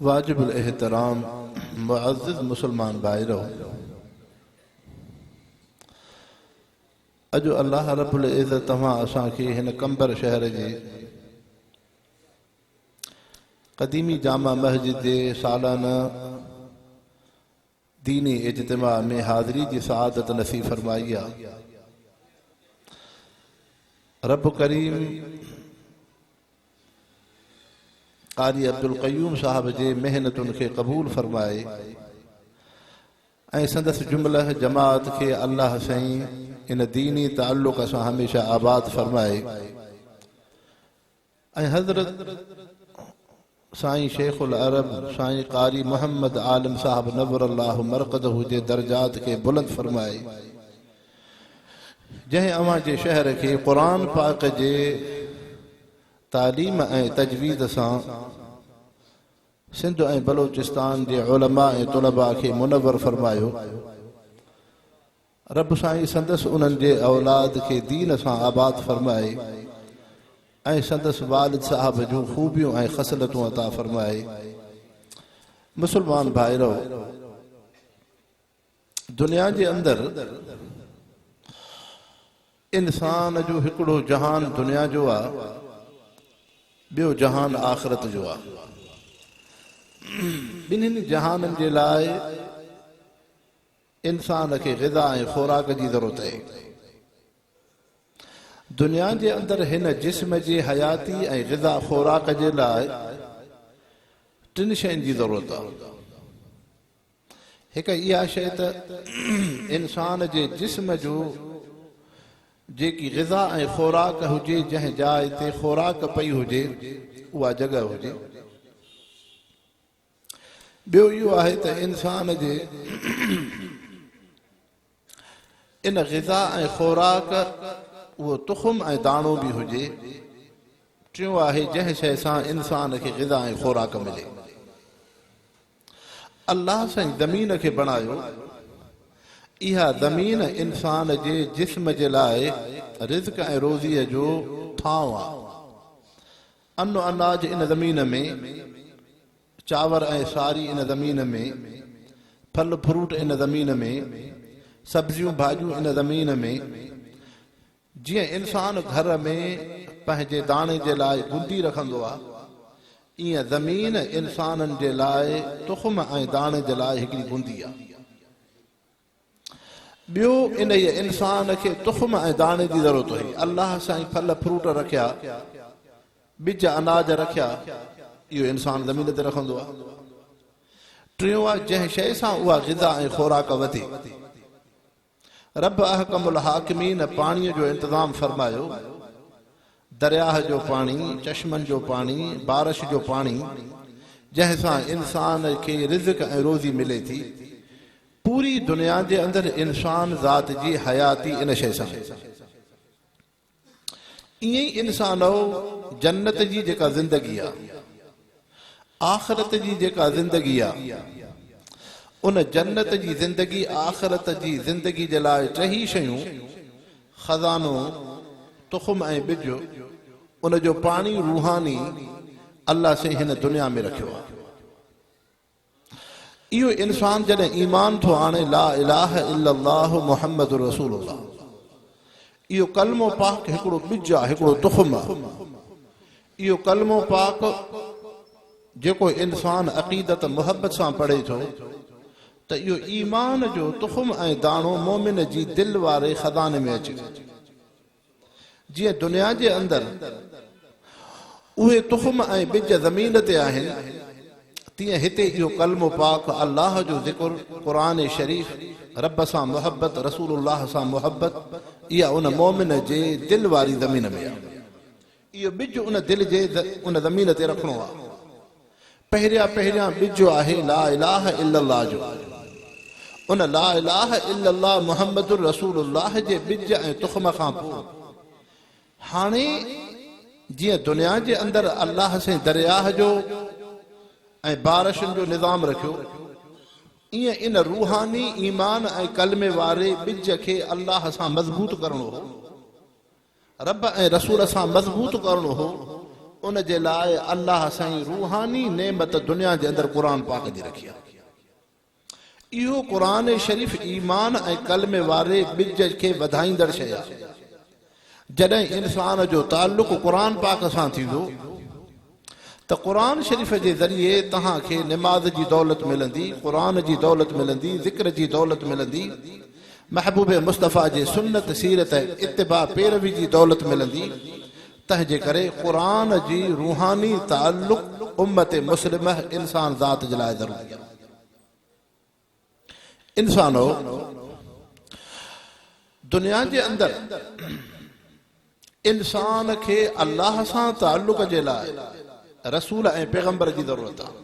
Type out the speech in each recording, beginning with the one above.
واجب الاحترام معزز مسلمان ڀائرو! اڄ الله رب العزت توهان اسان کي هن قمبر شهر جي قديمي جامع مسجد جي سالانه ديني اجتماع ۾ حاضري جي سعادت نصيب فرمائي آهي رب ڪريم قاري عبدالقيوم صاحب جي محنتن کي قبول فرمائي ۽ سندس جمله جماعت کي الله سائين ان ديني تعلق سان هميشه آباد فرمائي ۽ حضرت سائين شيخ العرب سائين قاري محمد عالم صاحب نور الله مرقده جي درجات کي بلند فرمائي جنهن اوهان جي شهر کي قرآن پاڪ جي تعليم ۽ تجويد سان سنڌ ۽ بلوچستان جي علماء ۽ طلباء کي منور فرمايو رب سائين سندس انهن جي اولاد کي دين سان آباد فرمائي ۽ سندس والد صاحب جون خوبيون ۽ خصلتون عطا فرمائي مسلمان ڀائرو دنيا جي اندر انسان جو هڪڙو جهان دنيا جو آ ٻيو جهان آخرت جو آ ٻنهن جهانن جي لاء انسان کي غذا ۽ خوراڪ جي ضرورت آهي دنيا جي اندر هن جسم جي حياتي ۽ غذا خوراڪ جي لاء ٽن شين جي ضرورت آهي هڪ اها شيء ته انسان جي جسم جو جيڪي غذا ۽ خوراڪ هجي جنهن جاء تي خوراڪ پئي هجي اها جڳهه هجي ٻيو اهو آهي ته انسان جي ان غذا ۽ خوراڪ اهو تخم ۽ داڻو به هجي. ٽيون آهي جنهن شيء سان انسان کي غذا ۽ خوراڪ ملي. الله سائين زمين کي بڻايو. اها زمين انسان جي جسم جي لاء رزق ۽ روزيء جو ٿانو آهي. انو اناج ان زمين ۾ چانور ۽ ساري ان زمين ۾، ڦل فروٽ ان زمين ۾، سبزيون ڀاڄيون ان زمين ۾، جيئن انسان گهر ۾ پنهنجي داڻي جي لاء گندي رکندو آ، ايئن زمين انسانن جي لاء تخم ۽ داڻي جي لاء هڪڙي گندي آ. ٻيو انهيء انسان کي تخم ۽ داڻي جي ضرورت هئي. الله سائين ڦل فروٽ رکيا، ٻج اناج رکيا، اهو انسان زمين تي رکندو آهي. ٽيون آهي جنهن شيء سان اها غذا ۽ خوراڪ وڌي. رب احڪم الحاڪمين پاڻيء جو انتظام فرمايو، درياهه جو پاڻي، چشمن جو پاڻي، بارش جو پاڻي، جنهن سان انسان کي رزق ۽ روزي ملي ٿي. پوري دنيا جي اندر انسان ذات جي حياتي ان شيء سان آهي. ائين ئي انسانؤ! جنت جي جيڪا زندگي آ، آخرت جي جيڪا زندگي آ، ان جنت جي زندگي، آخرت جي زندگي جي لاء ٽيهي شيون، خزانو، تخم ۽ ٻج، ان جو پاڻي روحاني، الله سين هن دنيا ۾ رکيو آ. اهو انسان جڏهن ايمان ٿو آڻي لا اله الا الله محمد رسول الله اهو ڪلمو پاڪ هڪڙو ٻج آهي هڪڙو تخم آهي اهو ڪلمو پاڪ جيڪو انسان عقيدت محبت سان پڙهي ٿو ته اهو ايمان جو تخم ۽ داڻو مومن جي دل واري خزاني ۾ اچي جيئن دنيا جي اندر اهي تخم ۽ ٻج زمين تي آهن، تيئن هتي اهو ڪلمو پاڪ الله جو ذڪر، قرآن شريف، رب سان محبت، رسول الله سان محبت، اها ان مؤمن جي دل واري زمين ۾ آهي. اهو ٻج ان دل جي ان زمين تي رکڻو آ پهريان پهريان ٻج آهي لا اله الا الله جو ان لا اله الا الله محمد رسول الله جي ٻج ۽ تخم کان پوء هاڻي جيئن دنيا جي اندر الله سين درياه جو ۽ بارشن جو نظام رکيو ائين ان روحاني ايمان ۽ ڪلمي واري ٻج کي الله سان مضبوط ڪرڻو هو رب ۽ رسول سان مضبوط ڪرڻو هو ان جي لاء الله سائين روحاني نعمت دنيا جي اندر قرآن پاڪ جي رکي آهي اهو قرآن شريف ايمان ۽ ڪلمي واري ٻج کي وڌائيندڙ شيء آهي جڏهن انسان جو تعلق قرآن پاڪ سان ٿيندو ته قرآن شريف جي ذريعي توهان کي نماز جي دولت ملندي، قرآن جي دولت ملندي، ذڪر جي دولت ملندي، محبوب مصطفيٰ جي سنت، سيرت ۽ اتباع پيروي جي دولت ملندي، تنهنجي ڪري قرآن جي روحاني تعلق امت مسلمه، انسان ذات جي لاء ضروري آهي. انسانو! دنيا جي اندر انسان کي الله سان تعلق جي لاء رسول ۽ پيغمبر جي ضرورت آهي.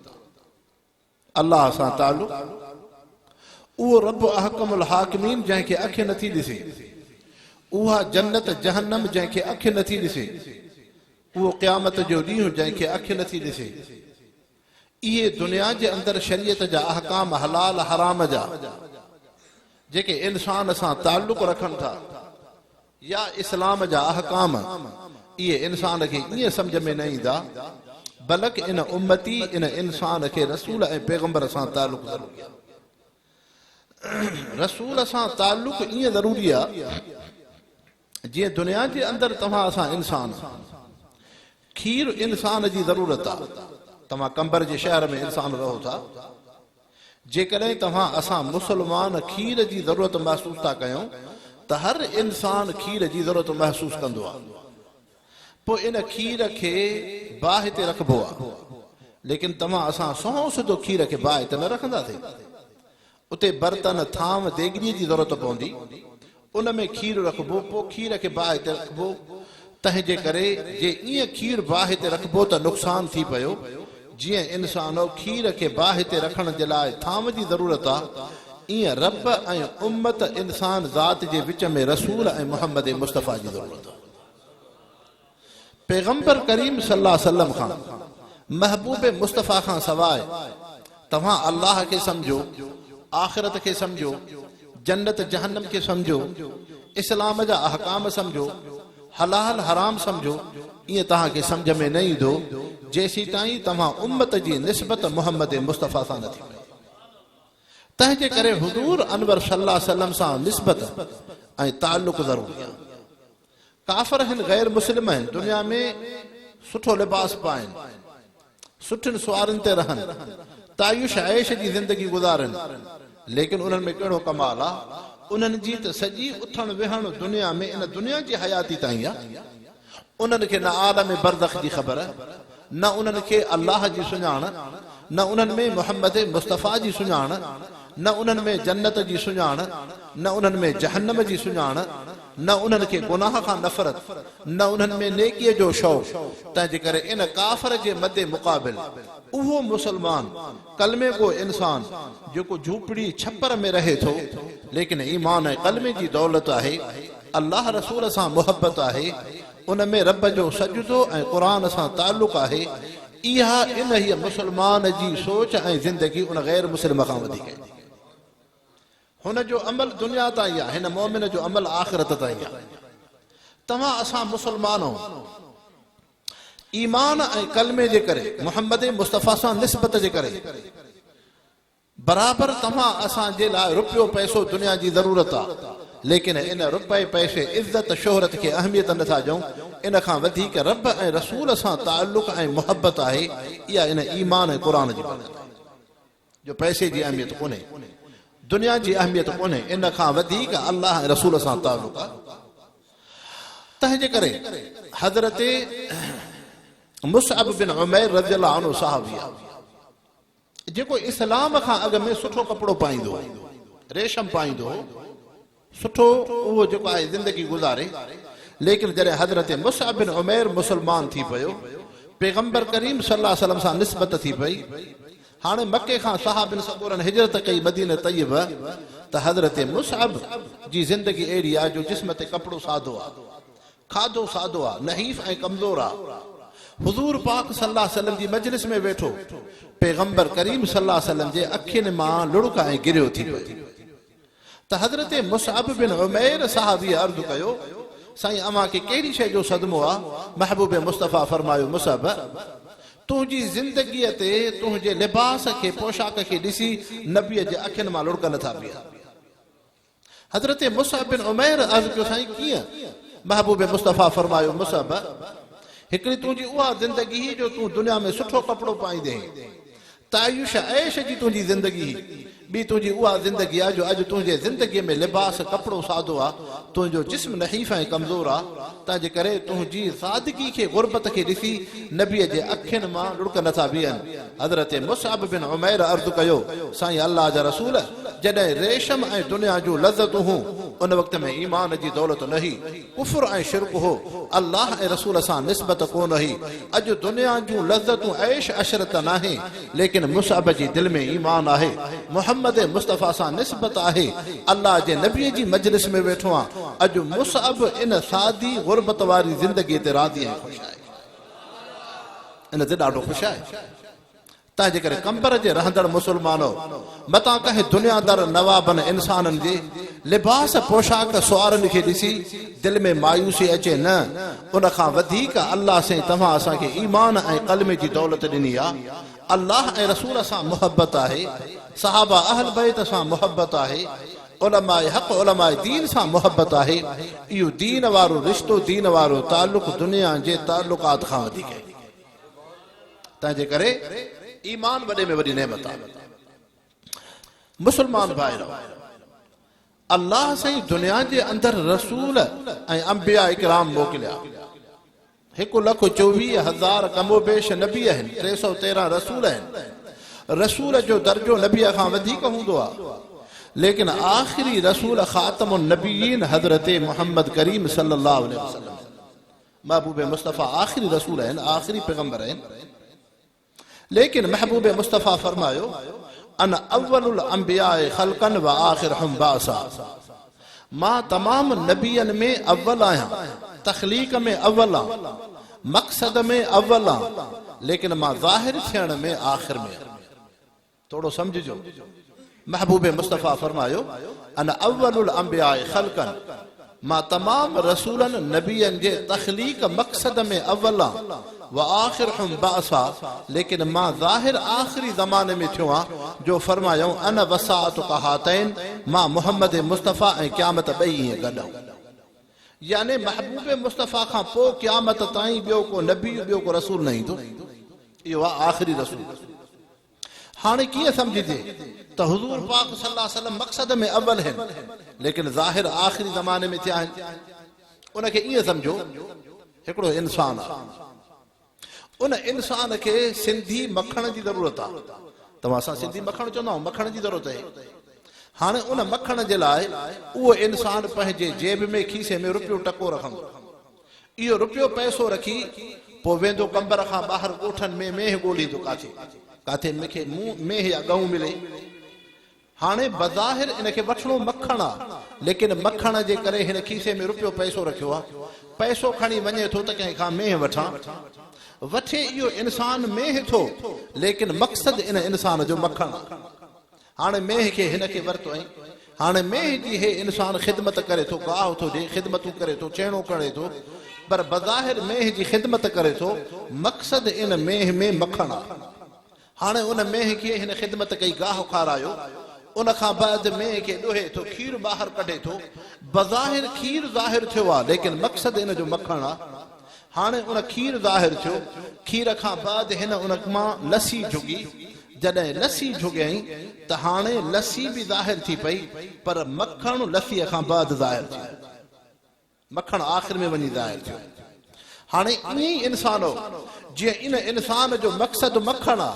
الله سان تعلق اهو رب احڪم الحاڪمين جنهن کي اک نٿي ڏسي، اها جنت جهنم جنهن کي اک نٿي ڏسي، اهو قيامت جو ڏينهن جنهن کي اک نٿي ڏسي، اهي دنيا جي اندر شريعت جا احڪام حلال حرام جا جيڪي انسان سان تعلق رکن ٿا يا اسلام جا احڪام اهي انسان کي ائين سمجهه ۾ نه ايندا بلڪ ان امتي ان انسان کي رسول ۽ پيغمبر سان تعلق ضروري آهي رسول سان تعلق ائين ضروري آهي جيئن دنيا جي اندر توهان اسان انسان کير انسان جي ضرورت آ. توهان قمبر جي شهر ۾ انسان رهو ٿا. جيڪڏهن توهان اسان مسلمان کير جي ضرورت محسوس ٿا ڪيون ته هر انسان کير جي ضرورت محسوس ڪندو آ. پوء ان کير کي باهه تي رکبو آ. ليڪن توهان اسان سنئون سڌو کير کي باهه تي نه رکنداسين. اتي برتن، ٿانو، ديڳڙيء جي ضرورت پوندي. ان ۾ کير رکبو، پوء کير کي باهه تي رکبو. تنهنجي ڪري جي ائين کير باهه تي رکبو ته نقصان ٿي پيو. جيئن انسانو کير کي باهه تي رکڻ جي لاء ٿانو جي ضرورت آ، ائين رب ۽ امت، انسان ذات، جي وچ ۾ رسول ۽ محمد مصطفيٰ جي ضرورت آ. پيغمبر ڪريم صلي الله عليه وسلم کان، محبوب مصطفيٰ کان سواء، توهان الله کي سمجهو، آخرت کي سمجهو، جنت جهنم کي سمجهو، اسلام جا احڪام سمجهو، حلال حرام سمجهو، ائين توهان کي سمجهه ۾ نه ايندو، جيسيتائين توهان امت جي نسبت محمد مصطفيٰ سان نه ٿي ڪيو. تنهن جي ڪري حضور انور صلي الله عليه وسلم سان نسبت ۽ تعلق ضروري آهي. ڪافر آهن غير مسلم آهن دنيا ۾ سٺو لباس پائن سٺين سوارين تي رهن تعيش عيش جي زندگي گذارن ليڪن انهن ۾ ڪهڙو ڪمال آ انهن جي ته سڄي اٿڻ ويهڻ دنيا ۾ ان دنيا جي حياتي تائين آ انهن کي نه عالم برزخ جي خبر نه انهن کي الله جي سڃاڻ، نه انهن ۾ محمد مصطفيٰ جي سڃاڻ، نه انهن ۾ جنت جي سڃاڻ، نه انهن ۾ جهنم جي سڃاڻ، نه انهن کي گناهه کان نفرت، نه انهن ۾ نيڪيء جو شوق، تنهنجي ڪري ان ڪافر جي مد مقابل، اهو مسلمان، ڪلمي گو انسان، جيڪو جهوپڙي، ڇپر، ۾ رهي ٿو، ليڪن ايمان ۽ ڪلمي جي دولت آهي، الله رسول سان محبت آهي، ان ۾ رب جو سجدو ۽ قرآن سان تعلق آهي، اها انهيء مسلمان جي سوچ ۽ زندگي ان غير مسلم کان وڌيڪ آهي. هن جو عمل دنيا تائين آهي، هن مؤمن جو عمل آخرت تائين آهي. توهان اسان مسلمانو ايمان ۽ ڪلمي جي ڪري، محمد مصطفيٰ سان نسبت جي ڪري، برابر توهان اسان جي لاء رپيو پئسو دنيا جي ضرورت آ ليڪن ان رپئي پئسي عزت شهرت کي اهميت نٿا ڏيون ان کان وڌيڪ رب ۽ رسول سان تعلق ۽ محبت آهي اها ان ايمان ۽ قرآن جي برڪت آهي جو پئسي جي اهميت ڪونهي دنيا جي اهميت ڪونهي ان کان وڌيڪ الله ۽ رسول سان تعلق آ تنهن جي ڪري حضرت مصعب بن عمير رضي الله عنه صحابي آ جيڪو اسلام کان اڳ ۾ سٺو ڪپڙو پائيندو هو، ريشم پائيندو هو، سٺو اهو جيڪو آهي زندگي گذاري، ليڪن جڏهن حضرت مصعب بن عمير مسلمان ٿي پيو، پيغمبر ڪريم صلي الله عليه وسلم سان نسبت ٿي پئي، هاڻي مڪي کان صحابين سان ڳوڙهن هجرت ڪئي مدينه طيبه ته حضرت مصعب جي زندگي اهڙي آهي جو جسم تي ڪپڙو سادو آهي، کاڌو سادو آ، نحيف ۽ ڪمزور آ. حضور پاڪ صلي الله عليه وسلم جي مجلس ۾ ويٺو، پيغمبر ڪريم صلي الله عليه وسلم جي اکين مان لڙڪ ۽ گريو ٿي پئي ته حضرت مصعب بن عمير صحابيء عرض ڪيو، سائين اوهان کي ڪهڙي شيء جو صدمو آ؟ محبوب مصطفيٰ فرمايو، مصعب! تنهنجي زندگيء تي تنهنجي لباس کي، پوشاڪ کي ڏسي نبيء جي اکين مان لڙڪ نه ٿا بيهن. حضرت مصعب بن عمير عرض ڪيو سائين ڪيئن؟ محبوب مصطفيٰ فرمايو مصعب! هڪڙي تنهنجي اها زندگي هئي جو تون دنيا ۾ سٺو ڪپڙو پائيندي هئين. تعيش عيش جي تنهنجي زندگي هئي. ٻي تنهنجي اها زندگي آهي جو اڄ تنهنجي زندگي ۾ لباس، ڪپڙو، سادو آهي. تنهنجو جسم نحيف ۽ ڪمزور آهي. تنهن جي ڪري تنهنجي سادگي کي غربت کي ڏسي نبيء جي اکين مان لڙڪ نٿا بيهن. حضرت مصعب بن عمير عرض ڪيو سائين الله جا رسول! جڏهن ريشم ۽ دنيا جون لذتون هون، ان وقت ۾ ايمان جي دولت نه هئي، ڪفر ۽ شرڪ هو، الله ۽ رسول سان نسبت ڪونه هئي، اڄ دنيا جون لذتون عيش عشرت ته ناهي، ليڪن مصعب جي دل ۾ ايمان آهي، محمد مصطفيٰ سان نسبت آهي، الله جي نبيء جي مجلس ۾ ويٺو آهيان، اڄ مصعب ان سادي غربت واري زندگيء تي راضي ۽ خوش آهي. ان تي ڏاڍو خوش آهي. تنهنجي ڪري قمبر جي رهندڙ مسلمانو، متان ڪنهن دنيا دار نوابن انسانن جي لباس پوشاڪ سوارن کي ڏسي دل ۾ مايوسي اچي نه، ان کان وڌيڪ الله سين توهان اسان کي ايمان ۽ ڪلمي جي دولت ڏني آ، الله ۽ رسول سان محبت آهي، صحابه اهل بيت سان محبت آهي، علماء حق علماء دين سان محبت آهي، اهو دين وارو رشتو دين وارو تعلق دنيا جي تعلقات کان وڌيڪ آهي. تنهنجي ڪري ايمان وڏي ۾ وڏي نعمت آهي مسلمان ڀائرو الله سائين دنيا جي اندر رسول ۽ انبياء اڪرام موڪليا هڪ لک چوويهه هزار کم و بيش نبي آهن ٽي سو تيرهن رسول آهن رسول جو درجو نبي کان وڌيڪ هوندو آهي ليڪن آخري رسول خاتم النبيين حضرت محمد کريم صلي الله عليه وسلم محبوب مصطفيٰ آخري رسول آهن آخري پيغمبر آهن ليڪن محبوب مصطفيٰ فرمايو انا اول الانبياء خلقا و آخرهم بعثا مان تمام نبين ۾ اول آهيان تخليق ۾ اول آهيان مقصد ۾ اول آهيان ليڪن مان ظاهر ٿيڻ ۾ آخر ۾ آهيان ٿورو سمجهجو محبوب مصطفي فرمايو انا اول الانبياء خلقا مان تمام رسولن نبين جي تخليق مقصد ۾ اول آن واخرهم بعثا ليڪن مان ظاهر آخري زماني ۾ ٿيو آن جو فرمايائون انا وساعتک هاتين مان محمد مصطفي ۽ قيامت ٻئي ائين گڏ آهون يعني محبوب مصطفي کان پوء قيامت تائين ٻيو ڪو نبي ٻيو ڪو رسول نه ايندو اهو آهي آخري رسول هاڻي ڪيئن سمجهجي ته حضور پاڪ صلي الله عليه وسلم مقصد ۾ اول هن ليڪن ظاهر آخري زماني ۾ ٿيا هن ان کي ائين سمجهو هڪڙو انسان آ ان انسان کي سنڌي مکڻ جي ضرورت آ توهان اسان سنڌي مکڻ چوندا آهيون مکڻ جي ضرورت آهي هاڻي ان مکڻ جي لاء اهو انسان پنهنجي جيب ۾ کيسي ۾ روپيو ٽڪو رکندو اهو رپيو پئسو رکي پوء ويندو قنبر کان ٻاهر ڳوٺن ۾ مينهن ڳوليندو ڪاٿي ڪاٿي مون کي مينهن يا ڳئون ملي. هاڻي بظاهر ان کي وٺڻو مکڻ آ ليڪن مکڻ جي ڪري هن کيسي ۾ رپيو پئسو رکيو آ. پئسو کڻي وڃي ٿو ته ڪنهن کان مينهن وٺان. وٺي اهو انسان مينهن ٿو ليڪن مقصد ان انسان جو مکڻ آ. هاڻي مينهن کي هن کي ورتو ۽. هاڻي مينهن جي هي انسان خدمت ڪري ٿو، گاهه ٿو ڏي، خدمتون ڪري ٿو، چهڻو ڪڙي ٿو، پر بظاهر مينهن جي خدمت ڪري ٿو، مقصد ان مينهن ۾ مکڻ آ. هاڻي ان مينهن کي هن خدمت ڪئي، گاهه کارايو، ان کان بعد مينهن کي ڏوهي ٿو، کير ٻاهر ڪڍي ٿو، بظاهر کير ظاهر ٿيو آ، ليڪن مقصد ان جو مکڻ آ. هاڻي ان کير ظاهر ٿيو. کير کان بعد هن ان مان لسي جهڳي. جڏهن لسي جهڳيائين ته هاڻي لسي به ظاهر ٿي پئي پر مکڻ لسيء کان بعد ظاهر ٿيو. مکڻ آخر ۾ وڃي ظاهر ٿيو. هاڻي ائين ئي انسانو! جيئن ان انسان جو مقصد مکڻ آ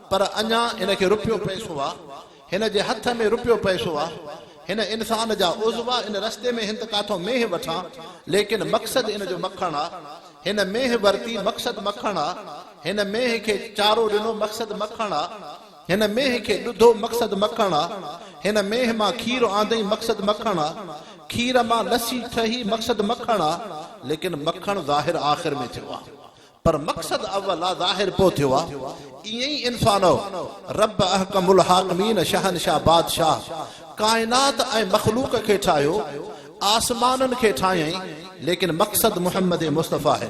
پر اڃا هن کي رپيو پئسو آ، هن جي هٿ ۾ رپيو پئسو آ. هن انسان جا عضوا ان رستي ۾ هن ته ڪاٿو مينهن وٺان ليڪن مقصد ان جو مکڻ آ. هن مينهن ورتي مقصد مکڻ آ. هن مينهن کي چارو ڏنو مقصد مکڻ آ. هن مينهن کي ڏڌو مقصد مکڻ آ. هن مينهن مان کير آندئين مقصد مکڻ آ. کير مان لسي ٺهي مقصد مکڻ آ. ليڪن مکڻ ظاهر آخر ۾ ٿيو آ. پر مقصد اول آ ظاهر پو ٿيو آ ائين ئي انسانؤ رب احڪم الحاڪمين شهنشاهه بادشاهه ڪائنات ۽ مخلوق کي ٺاهيو آسمانن کي ٺاهيائين ليڪن مقصد محمد مصطفيٰ هي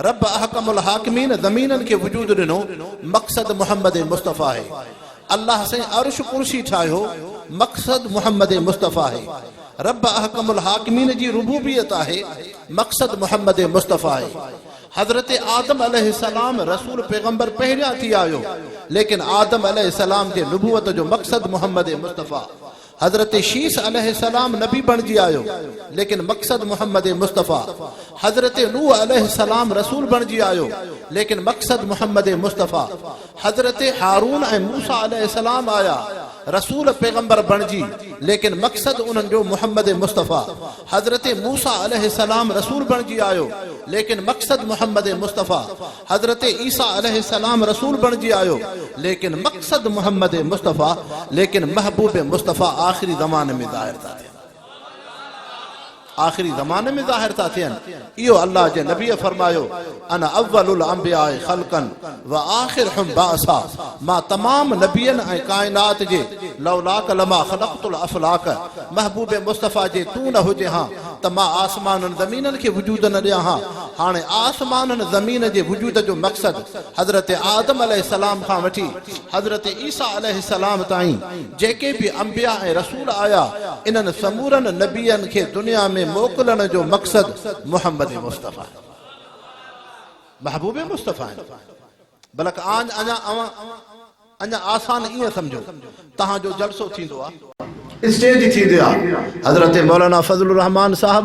رب احڪم الحاڪمين زمينن کي وجود ڏنو مقصد محمد مصطفيٰ هي الله سائين عرش ڪرسي ٺاهيو مقصد محمد مصطفيٰ هي رب احڪم الحاڪمين جي ربوبيت آهي مقصد محمد مصطفيٰ هي حضرت آدم عليه السلام رسول پيغمبر پهريان ٿي آيو ليڪن آدم عليه السلام جي نبوت جو مقصد محمد مصطفيٰ حضرت شيث عليه السلام نبي بڻجي آيو ليڪن مقصد محمد مصطفيٰ حضرت نوح عليه السلام رسول بڻجي آيو ليڪن مقصد محمد مصطفيٰ حضرت هارون ۽ موسيٰ عليه السلام آيا رسول پيغمبر بڻجي ليڪن مقصد انهن جو محمد مصطفيٰ حضرت موسيٰ عليه السلام رسول بڻجي آيو ليڪن مقصد محمد مصطفيٰ حضرت عيسيٰ عليه السلام رسول بڻجي آيو ليڪن مقصد محمد مصطفيٰ ليڪن محبوب مصطفيٰ آخري زماني ۾ ظاهر ٿا ٿين آخري زماني ۾ ظاهر ٿا ٿين اهو الله جي نبي فرمايو انا اول الانبياء خلقا واخرهم بعثا مان تمام نبين ۽ ڪائنات جي لولاک لما خلقت الافلاک محبوب مصطفيٰ جي تون نه هجين ها ته مان آسمانن زمينن کي وجود نه ڏيان ها هاڻي آسمانن زمين جي وجود جو مقصد حضرت آدم عليه السلام کان وٺي حضرت عيسيٰ عليه السلام تائين جيڪي به انبياء ۽ رسول آيا، انهن سمورن نبين کي دنيا ۾ موڪلڻ جو مقصد محمد مصطفيٰ، محبوب مصطفيٰ آهن. بلڪ آن اڃا اوهان اڃا آسان ائين سمجهو تهان جو جلسو ٿيندو آ. اسٽيج ٿيندي آ. حضرت مولانا فضل الرحمان صاحب.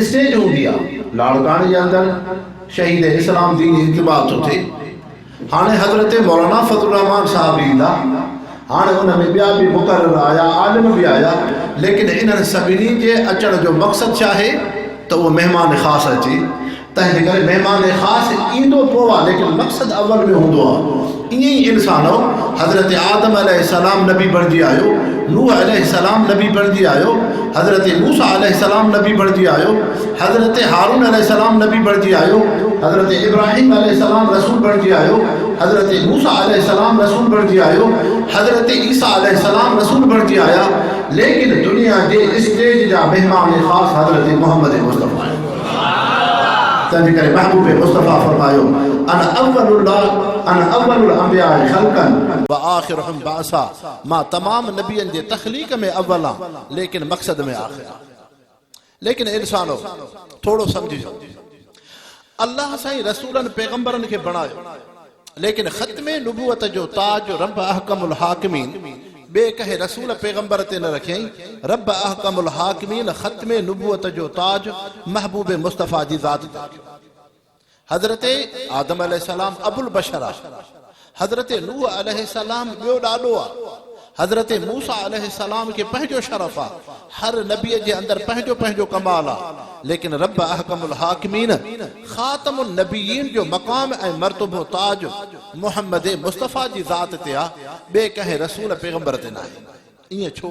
اسٽيج هوندي آ لاڙڪاڻي جي اندر شهيد اسلام دين انتباه ٿو ٿئي هاڻي حضرت مولانا فضل الرحمان صاحب به ايندا هاڻي ان ۾ ٻيا به مقرر آيا عالم به آيا ليڪن انهن سڀني جي اچڻ جو مقصد ڇا آهي ته اهو مهمان خاص اچي تنهن جي ڪري مهمان خاص ايندو پوء آ ليڪن مقصد اول ۾ هوندو آ ائين ئي انسانؤ حضرت آدم عليه السلام نبي بڻجي آيو نوح عليه السلام نبي بڻجي آيو حضرت موسا عليه السلام نبي بڻجي آيو حضرت هارون عليه السلام نبي بڻجي آيو حضرت ابراهيم عليه السلام رسول بڻجي آيو حضرت موسا عليه السلام رسول بڻجي آيو حضرت عيسا عليه السلام رسول بڻجي آيا ليڪن دنيا جي اسٽيج جا مهمان خاص حضرت محمد مصطفي تنهنجي ڪري محبوب مصطفيٰ فرمايو، انا اول الله انا اول الانبياء خلقا. وآخرهم بعثا، مان تمام نبين جي تخليق ۾ اول آهيان، ليڪن مقصد ۾ آخر آهيان. ليڪن انسانو! ٿورو سمجهجو. الله سائين رسولن پيغمبرن کي بڻايو. ليڪن ختم نبوت جو تاج رب احڪم الحاڪمين ٻئي ڪنهن رسول پيغمبر تي نه رکيائين، رب احڪم الحاڪمين ختم نبوت جو تاج محبوب مصطفيٰ جي ذات تي رکيو. حضرت آدم عليه السلام ابوالبشر آهي، حضرت نوح عليه السلام ٻيو ڏاڏو آهي، حضرت موسيٰ عليه السلام کي پنهنجو شرف آ. هر نبيء جي اندر پنهنجو پنهنجو ڪمال آ. ليڪن رب احڪم الحاڪمين، خاتم النبيين جو مقام ۽ مرتبو تاج محمد مصطفيٰ جي ذات تي آ، ٻئي ڪنهن رسول پيغمبر تي ناهي. ائين ڇو؟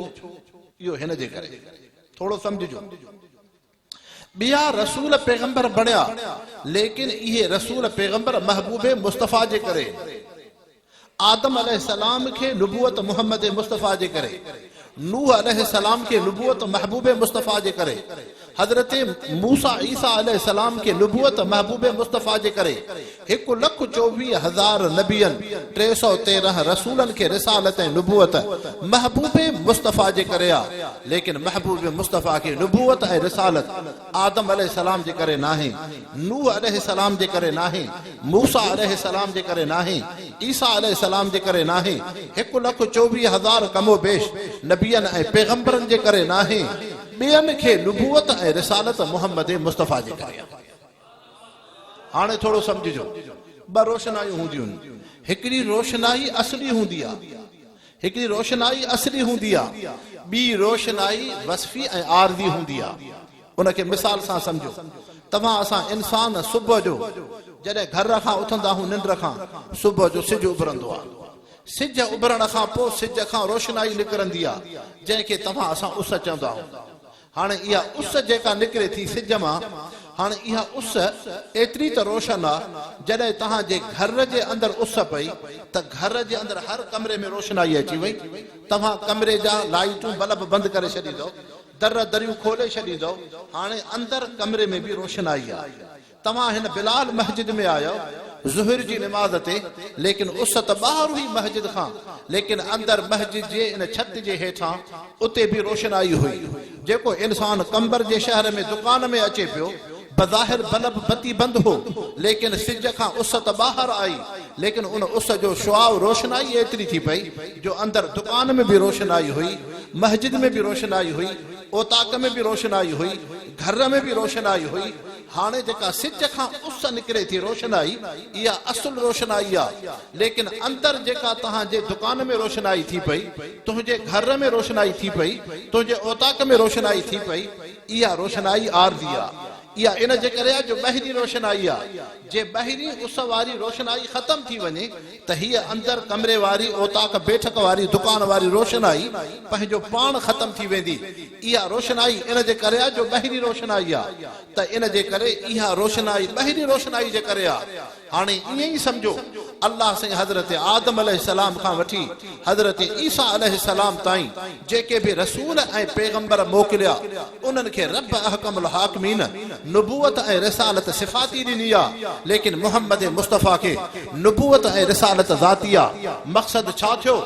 اهو هن جي ڪري. ٿورو سمجهجو. ٻيا رسول پيغمبر بڻيا ليڪن اهي رسول پيغمبر محبوب مصطفيٰ جي ڪري، آدم عليه السلام کي نبوت محمد مصطفيٰ جي ڪري، نوح عليه السلام کي نبوت محبوب مصطفيٰ جي ڪري، حضرت موسيٰ عيسيٰ عليه السلام کي نبوت محبوب مصطفيٰ جي ڪري، هڪ لک چوويهه هزار نبين، ٽي سؤ تيرنهن رسولن کي رسالت ۽ نبوت محبوب مصطفيٰ جي ڪري آ، ليڪن محبوب مصطفيٰ کي نبوت ۽ رسالت آدم عليه السلام جي ڪري ناهي، نوح عليه السلام جي ڪري ناهي، موسيٰ عليه السلام جي ڪري ناهي، عيسيٰ عليه السلام جي ڪري ناهي، هڪ لک چوويهه هزار ڪم و بيش نبين ۽ پيغمبرن جي ڪري ناهي، ٻين کي نبوت ۽ رسالت محمد مصطفيٰ جي ڪري آ. هاڻي ٿورو سمجهجو. ٻه روشنايون هونديون آهن. هڪڙي روشنائي اصلي هوندي آهي. هڪڙي روشنائي اصلي هوندي آهي. ٻي روشنائي وصفي ۽ عارضي هوندي آهي. ان کي مثال سان سمجهو. توهان اسان انسان صبح جو جڏهن گهر کان اٿندا آهيون ننڊ کان، صبح جو سج اڀرندو آهي. سج اڀرڻ کان پوء سج کان روشنائي نڪرندي آهي، جنهن کي توهان اسان اس چوندا آهيون. هاڻ اها اس جيڪا نڪري ٿي سج مان، هاڻ اها اس ايتري ته روشن آ، جڏهن توهان جي گهر جي اندر اس پئي ته گهر جي اندر هر ڪمري ۾ روشنائي اچي وئي، توهان ڪمري جا لائيٽون بلب بند ڪري ڇڏيندؤ، در دريون کولي ڇڏيندؤ، هاڻي اندر ڪمري ۾ به روشنائي آ. توهان هن بلال مسجد ۾ آيو ظهر جي نماز تي ليڪن اس ته ٻاهر هئي مسجد کان ليڪن اندر مسجد جي ان ڇت جي هيٺان اتي به روشنائي هئي جيڪو انسان قمبر جي شهر ۾ دڪان ۾ اچي پيو بظاهر بلب بتي بند هو ليڪن سج کان اس ته ٻاهر آئي ليڪن ان اس جو شعاع روشنائي ايتري ٿي پئي جو اندر دڪان ۾ به روشنائي هئي مسجد ۾ به روشنائي هئي اوطاق ۾ به روشنائي هئي گهر ۾ به روشنائي هئي هاڻي جيڪا سج کان اس نڪري ٿي روشنائي، اها اصل روشنائي آ، ليڪن اندر جيڪا توهان جي دڪان ۾ روشنائي ٿي پئي، تنهنجي گهر ۾ روشنائي ٿي پئي، تنهنجي اوطاق ۾ روشنائي ٿي پئي، اها روشنائي عارضي آ. اها ان جي ڪري آ جو ٻاهرين روشنائي آ، جي ٻاهرين اس واري روشنائي ختم ٿي وڃي ته هيء اندر ڪمري واري اوطاق بيٺڪ واري دڪان واري روشنائي پنهنجو پاڻ ختم ٿي ويندي. اها روشنائي ان جي ڪري آ جو ٻاهرين روشنائي آ ته ان جي ڪري اها روشنائي ٻاهرين روشنائي جي ڪري آ. هاڻي ائين ئي سمجهو الله سائين حضرت آدم عليه السلام کان وٺي حضرت عيسيٰ عليه السلام تائين جيڪي به رسول ۽ پيغمبر موڪليا انهن کي رب احڪم الحاڪمين نبوت ۽ رسالت صفاتي ڏني آ، ليڪن محمد مصطفيٰ کي نبوت ۽ رسالت ذاتي آ، مقصد ڇا ٿيو؟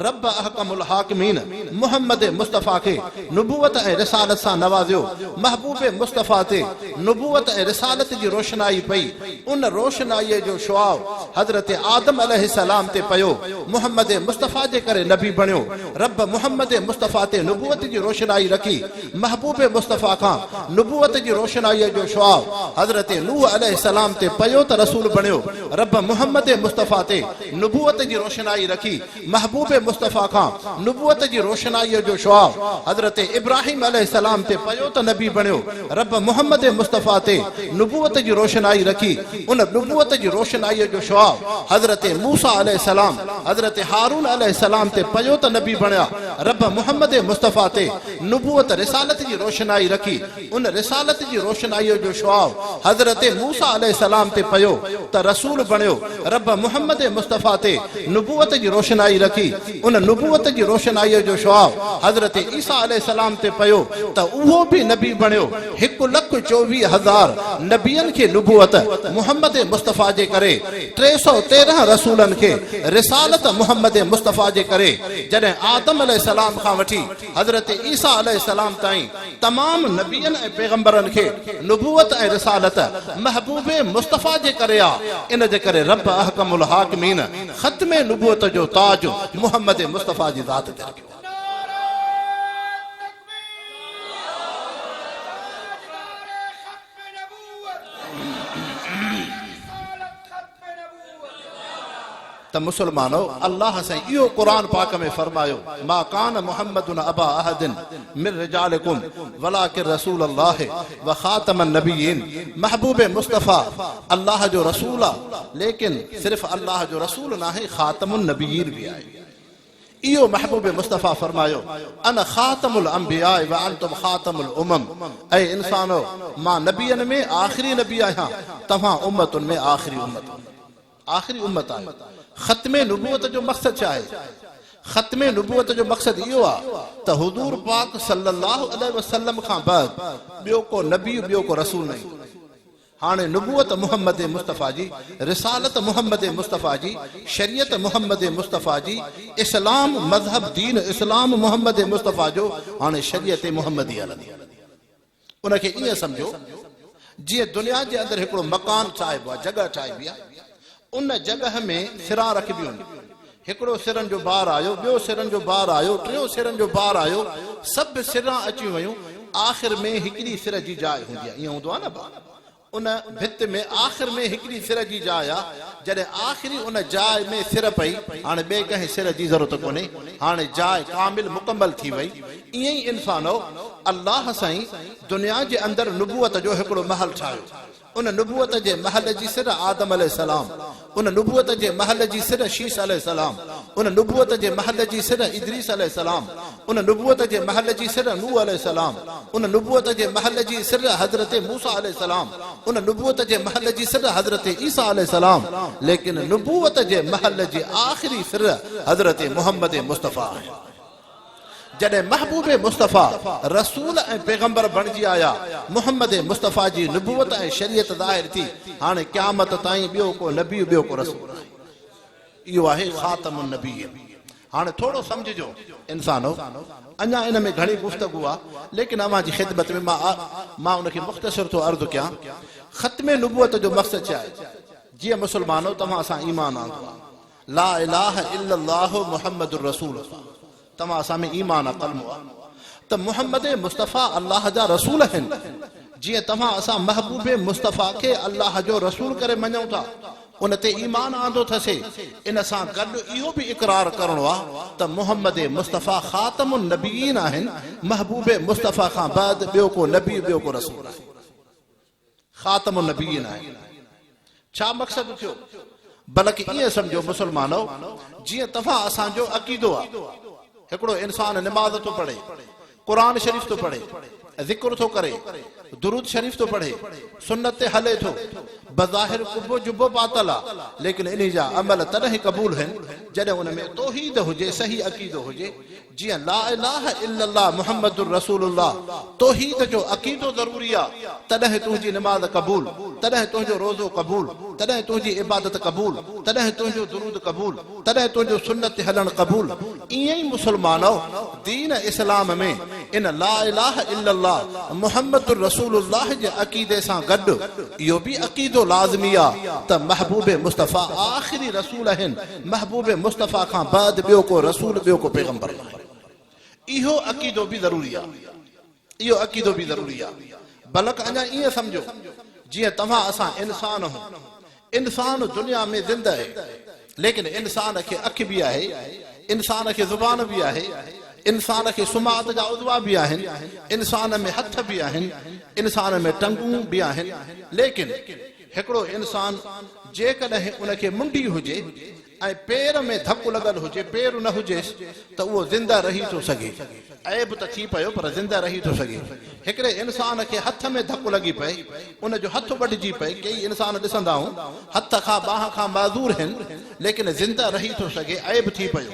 رب احڪم الحاڪمين محمد مصطفيٰ کي نبوت ۽ رسالت سان نوازيو، محبوب مصطفيٰ تي نبوت ۽ رسالت جي روشنائي پئي، ان روشنائيء جو شعاع حضرت آدم عليه السلام تي پيو، محمد مصطفيٰ جي ڪري نبي بڻيو، رب محمد مصطفيٰ تي نبوت جي روشنائي رکي، محبوب مصطفيٰ کان نبوت جي روشنائيء جو شعاع حضرت نوح عليه السلام تي پيو ته رسول بڻيو، رب محمد مصطفيٰ تي نبوت جي روشنائي رکي، محبوب مصطفيٰ کان نبوت جي روشنائيء جو شعاع حضرت ابراهيم عليه السلام تي پيو ته نبي بڻيو. رب محمد مصطفيٰ تي نبوت جي روشنائي رکي، ان نبوت جي روشنائيء جو شعاع حضرت موسيٰ عليه السلام، حضرت هارون عليه السلام تي پيو ته نبي بڻيا، رب محمد مصطفيٰ تي نبوت رسالت جي روشنائي رکي، ان رسالت جي روشنائيء جو شعاع حضرت موسيٰ عليه السلام تي پيو ته رسول بڻيو، رب محمد مصطفيٰ تي نبوت جي روشنائي رکي، ان نبوت جي روشنائيء جو شعاع حضرت عيسيٰ عليه السلام تي پيو ته اهو به نبي بڻيو. هڪ لک چوويهه هزار نبين کي نبوت محمد مصطفيٰ جي ڪري، ٽي سؤ تيرنهن رسولن کي رسالت محمد مصطفيٰ جي ڪري، جڏهن آدم عليه السلام کان وٺي حضرت عيسيٰ عليه السلام تائين تمام نبين ۽ پيغمبرن کي نبوت ۽ رسالت محبوب مصطفيٰ جي ڪري آ، ان جي ڪري رب احڪم الحاڪمين، ختم نبوت جو تاج محمد مصطفيٰ جي ذات تي لڳيو. ته مسلمانو الله سائين اهو قرآن پاڪ ۾ فرمايو ما ڪان محمد ابا احد من رجالڪم ولڪن رسول الله وخاتم النبيين محبوب مصطفيٰ الله جو رسول آ ليڪن صرف الله جو رسول ناهي خاتم النبيين به آهي اهو محبوب مصطفيٰ فرمايو انا خاتم الانبياء وانتم خاتم الامم اي انسانو مان نبين ۾ آخري نبي آهيان توهان امتن ۾ آخري امت آخري امت آهيو. ختم نبوت جو مقصد ڇا آهي؟ ختم نبوت جو مقصد اهو آهي ته حضور پاڪ صلّي اللّٰه عليه وسلّم کان بعد ٻيو ڪو نبي، ٻيو ڪو رسول نه ايندو. هاڻي نبوت محمّد مصطفٰي جي، رسالت محمّد مصطفٰي جي، شريعت محمّد مصطفٰي جي، اسلام مذهب دين اسلام محمّد مصطفٰي جو، هاڻي شريعت محمّدي هلندي. ان کي ائين سمجهو جيئن دنيا جي اندر هڪڙو مڪان ٺاهبو آهي، جڳهه ٺاهبي آهي، ان جڳهه ۾ سران رکبيون آهن، هڪڙو سرن جو بار آيو، ٻيو سرن جو بار آيو، ٽيون سرن جو بار آيو، سڀ سران اچيون ويون، آخر ۾ هڪڙي سر جي جاء هوندي آهي، ائين هوندو آهي نه ڀا؟ ان ڀت ۾ آخر ۾ هڪڙي سر جي جاء آ، جڏهن آخري ان جاء ۾ سر پئي، هاڻي ٻئي ڪنهن سر جي ضرورت ڪونهي، هاڻي جاء ڪامل مڪمل ٿي وئي. ائين ئي انسانؤ! الله سائين دنيا جي اندر نبوت جو هڪڙو محل ٺاهيو. ان نبوت جي محل جي سر آدم عليه السلام، ان نبوت جي محل جي سر شيس عليه السلام، ان نبوت جي محل جي سر ادريس عليه السلام، ان نبوت جي محل جي سر نوح عليه السلام، ان نبوت جي محل جي سر حضرت موسيٰ عليه السلام، ان نبوت جي محل جي سر حضرت عيسيٰ عليه السلام، ليڪن نبوت جي محل جي آخري سر حضرت محمد مصطفيٰ آهن. جڏهن محبوب مصطفيٰ رسول ۽ پيغمبر بڻجي آيا، محمد مصطفيٰ جي نبوت ۽ شريعت ظاهر ٿي، هاڻي قيامت تائين ٻيو ڪو نبي ٻيو ڪو رسول ناهي. اهو آهي خاتم النبيين. هاڻي ٿورو سمجهجو انسانو، اڃا ان ۾ گهڻي گفتگو آ، ليڪن اوهان جي خدمت ۾ مان مان ان کي مختصر ٿو عرض ڪيان. ختم نبوت جو مقصد ڇا آهي؟ جيئن مسلمانو توهان اسان ايمان آندو آ، لا اله الا الله محمد رسول الله توهان اسان ۾ ايمان عقل مون آ ته محمد مصطفيٰ الله جا رسول آهن جيئن توهان اسان محبوب مصطفيٰ کي الله جو رسول ڪري مڃون ٿا ان تي ايمان آندو ٿسي ان سان گڏ اهو به اقرار ڪرڻو آ ته محمد مصطفيٰ خاتم النبيين آهن محبوب مصطفيٰ کان بعد ٻيو ڪو نبي ٻيو ڪو رسول آهي خاتم النبيين آهي ڇا مقصد ٿيو بلڪ ائين سمجهو مسلمانؤ جيئن توهان اسان جو عقيدو آ هڪڙو انسان نماز ٿو پڙهي قرآن شريف ٿو پڙهي ذڪر ٿو ڪري درود شريف ٿو پڙهي سنت تي هلي ٿو بظاهر قبو جبو پاتل آ ليڪن انهي جا عمل تڏهن قبول هن جڏهن ان ۾ توحيد هجي صحيح عقيدو هجي جيئن لا اله الا الله محمد رسول الله توحيد جو عقيدو ضروري آ تڏهن تنهنجي نماز قبول تڏهن تنهنجو روزو قبول تڏهن تنهنجي عبادت قبول تڏهن تنهنجو درود قبول تڏهن تنهنجو سنت تي هلڻ قبول ائين ئي مسلمانؤ دين اسلام ۾ ان لا اله الا الله محمد رسول الله جي عقيدي سان گڏ اهو به عقيدو لازمي آ ته محبوب مصطفيٰ آخري رسول اهن محبوب مصطفيٰ کان بعد ٻيو ڪو رسول ٻيو ڪو پيغمبر ناهي اهو عقيدو به ضروري آ اهو عقيدو به ضروري آ بلڪ اڃا ائين سمجهو جيئن توهان اسان انسان هون انسان دنيا ۾ زنده هي ليڪن انسان کي اک به آهي انسان کي زبان به آهي انسان کي سماعت جا عضوا به آهن انسان ۾ هٿ به آهن انسان ۾ ٽنگون به آهن ليڪن هڪڙو انسان جيڪڏهن ان کي منڍي هجي ۽ پير ۾ ڌڪ لڳل هجي، پير نه هجيس ته اهو زنده رهي ٿو سگهي. عيب ته ٿي پيو پر زنده رهي ٿو سگهي. هڪڙي انسان کي هٿ ۾ ڌڪ لڳي پئي، ان جو هٿ وڍجي پئي، ڪيئي انسان ڏسندا آهون هٿ کان ٻانهن کان معذور هن ليڪن زنده رهي ٿو سگهي، عيب ٿي پيو.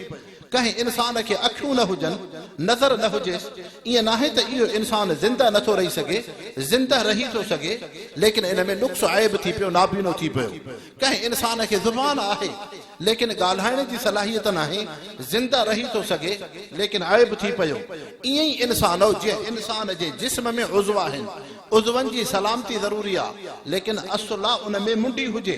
ڪنهن انسان کي اکيون نه هجن، نظر نه هجيس، ائين ناهي ته اهو انسان زنده نٿو رهي سگهي، زنده رهي ٿو سگهي، ليڪن ان ۾ نقص عيب ٿي پيو، نابينو ٿي پيو. ڪنهن انسان کي زبان آهي، ليڪن ڳالهائڻ جي صلاحيت ناهي، زنده رهي ٿو سگهي، ليڪن عيب ٿي پيو. ائين ئي انسان او جي. انسان جي جسم ۾ عضو آهن، عضون جي سلامتي ضروري آ، ليڪن اصل آ ان ۾ منڍي هجي،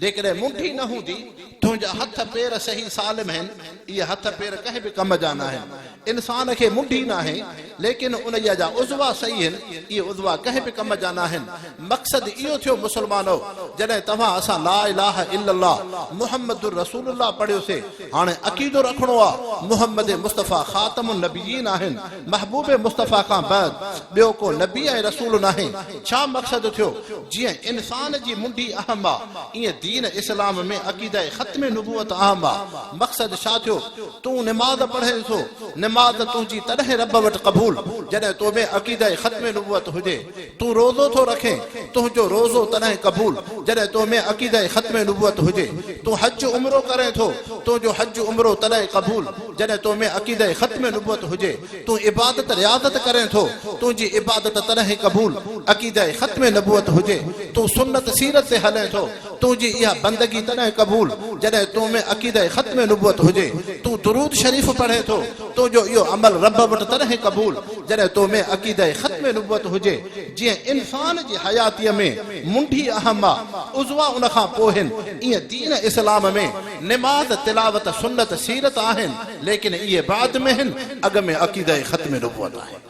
جيڪڏهن منڍي نه هوندي، تنهنجا هٿ پير صحيح سالم هين، اهي هٿ پير ڪنهن به ڪم جا ناهن. انسان کي منڍي ناهي، ليڪن انهيء جا عضوا صحيح هين، اهي عضوا ڪنهن به ڪم جا ناهن. مقصد اهو ٿيو مسلمانؤ! جڏهن توهان اسان لا اله الا الله محمد رسول الله پڙهيوسي، هاڻي عقيدو رکڻو آ، محمد مصطفيٰ خاتم النبيين آهن، محبوب مصطفيٰ کان بعد ٻيو ڪو نبي ۽ رسول ناهي، ڇا مقصد ٿيو؟ جيئن انسان جي منڍي اهم آ، ايئن دين اسلام ۾ عقيده ختم نبوت اهم آ، مقصد ڇا ٿيو؟ تون نماز پڙهين ٿو، نماز تنهنجي تڏهن رب وٽ قبول جڏهن تو ۾ عقيده ختم نبوت هجي، تون روزو ٿو رکين، تنهنجو روزو تڏهن قبول جڏهن تو ۾ عقيده ختم نبوت هجي. تون حج عمرو ڪرين ٿو، تنهنجو حج عمرو تڏهن قبول جڏهن تو ۾ عقيده ختم نبوت هجي. تون عبادت رياضت ڪرين ٿو، تنهنجي عبادت تڏهن قبول عقيده ختم نبوت هجي. تون سنت سيرت تي هلين ٿو، تنهنجي اها بندگي تڏهن قبول جڏهن تو ۾ عقيده ختم نبوت هجي، تون درود شريف پڙهين ٿو، تنهنجو اهو عمل رب وٽ تڏهن قبول جڏهن تو ۾ عقيده ختم نبوت هجي، جيئن انسان جي حياتيء ۾ منڍي اهم آ، عضوا ان کان پوء هن، ايئن دين اسلام ۾ نماز، تلاوت، سنت، سيرت آهن، ليڪن اهي بعد ۾ هن، اڳ ۾ عقيده ختم نبوت آهن.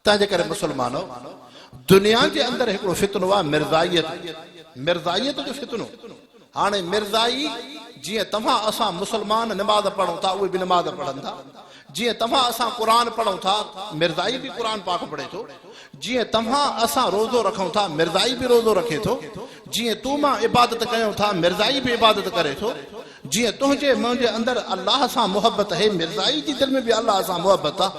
تنهنجي ڪري مسلمانو دنيا جي اندر هڪڙو فتنو آ مرزائيت مرزائيت جو فتنو هاڻي مرزائي جيئن توهان اسان مسلمان نماز پڙهون ٿا اهي به نماز پڙهن ٿا جيئن توهان اسان قرآن پڙهون ٿا مرزائي به قرآن پاڪ پڙهي ٿو جيئن توهان اسان روزو رکون ٿا مرزائي به روزو رکي ٿو جيئن تون مان عبادت ڪيون ٿا مرزائي به عبادت ڪري ٿو جيئن تنهنجي منهنجي اندر الله سان محبت هي مرزائي جي دل ۾ به الله سان محبت آ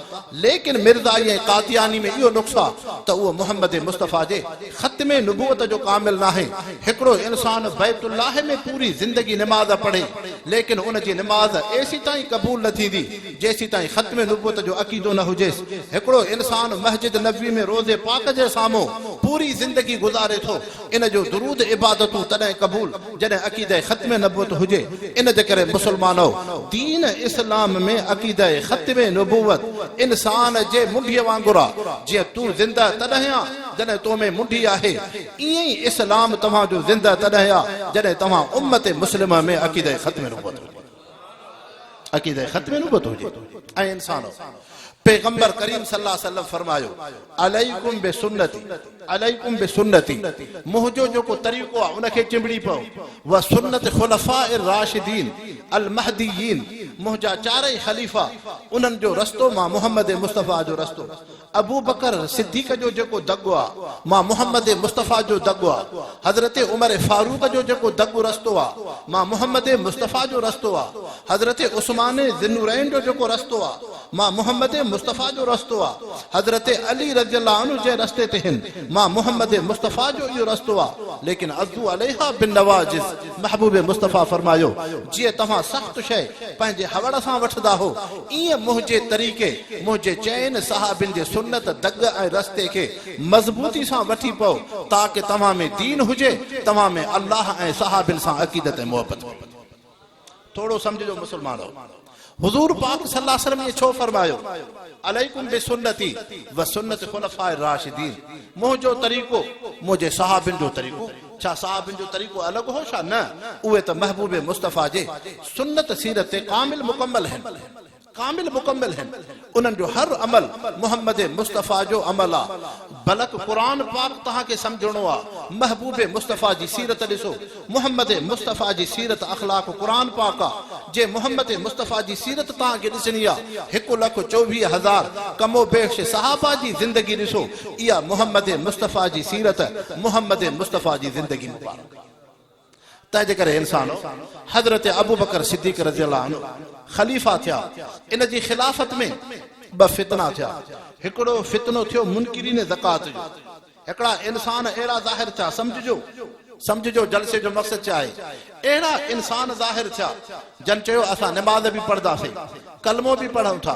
ليڪن مرزائي ۽ قادياني ۾ اهو نقص آ ته اهو محمد مصطفيٰ جي ختم نبوت جو ڪامل ناهي هڪڙو انسان بيت الله ۾ پوري زندگي نماز پڙهي ليڪن ان جي نماز ايسيتائين قبول نه ٿيندي جيسيتائين ختم نبوت جو عقيدو نه هجيس هڪڙو انسان مسجد نبوي ۾ روضي پاڪ جي سامهون پوري زندگي گذاري ٿو ان جو درود عبادتون تڏهن قبول جڏهن عقيده ختم نبوت هجي ان جي ڪري مسلمانؤ دين اسلام ۾ عقيده ختم نبوت انسان جي منڍي وانگر آ جيئن تون زنده تڏهن آ جڏهن تو ۾ منڍي آهي ائين ئي اسلام توهان جو زنده تڏهن آ جڏهن توهان امت مسلمه ۾ عقيده ختم نبوت هجي. عقيده ختم نبوت هجي ۽ انسانو پيغمبر ڪريم صلي الله عليه وسلم فرمايو عليكم بسنتي عليكم بسنتي منهنجو جيڪو طريقو آ ان کي چنبڙي پئو و سنت خلفاء الراشدين المهديين منهنجا چارئي خليفا انهن جو رستو مان محمد مصطفي جو رستو ابوبڪر صديق جو جيڪو دڳ آ، مان محمد مصطفيٰ جو دڳ آ، حضرت عمر فاروق جو جيڪو دڳ رستو آ، مان محمد مصطفيٰ جو رستو آ، حضرت عثمان ذي النورين جو جيڪو رستو آ، مان محمد مصطفيٰ جو رستو آ، حضرت علي رضي الله عنه جنهن رستي تي هن، مان محمد مصطفيٰ جو اهو رستو آ، ليڪن عضوا عليها بالنواجذ. محبوب مصطفيٰ فرمايو، جيئن توهان سخت شيء پنهنجي هوڙ سان وٺندا هو، ايئن منهنجي طريقي، منهنجي چئن صحابين جي سنت، دڳ ۽ رستي کي مضبوطي سان وٺي پئو، تاڪه توهان ۾ دين هجي، توهان ۾ الله ۽ صحابين سان عقيدت ۽ محبت هجي. ٿورو سمجهجو مسلمانو حضور پاڪ صلي الله عليه وسلم ائين ڇو فرمايو عليڪم بسنتي وسنت خلفاء الراشدين منهنجو طريقو منهنجي صحابين جو طريقو ڇا صحابين جو طريقو الڳ هو ڇا نه اهي ته محبوب مصطفيٰ جي سنت سيرت تي ڪامل مڪمل هن ڪامل مڪمل هن انهن جو هر عمل محمد مصطفيٰ جو عمل آ بلڪ قرآن پاڪ توهان کي سمجهڻو آ محبوب مصطفيٰ جي سيرت ڏسو محمد مصطفيٰ جي سيرت اخلاق قرآن پاڪ آ جي محمد مصطفيٰ جي سيرت توهان کي ڏسڻي آ هڪ لک چوويهه هزار ڪم و بيش صحابه جي زندگي ڏسو اها محمد مصطفيٰ جي سيرت محمد مصطفيٰ جي زندگي مبارڪ آ. تنهنجي ڪري انسانو! حضرت ابوبڪر صديق رضي الله عنه خليفه ٿيا، ان جي خلافت ۾ ٻه فتنا ٿيا، هڪڙو فتنو ٿيو منڪرين زڪوات جو، هڪڙا انسان اهڙا ظاهر ٿيا، سمجهجو، سمجهجو جلسي جو مقصد ڇا آهي، اهڙا انسان ظاهر ٿيا، جن چيو اسان نماز به پڙهنداسين، ڪلمو به پڙهون ٿا،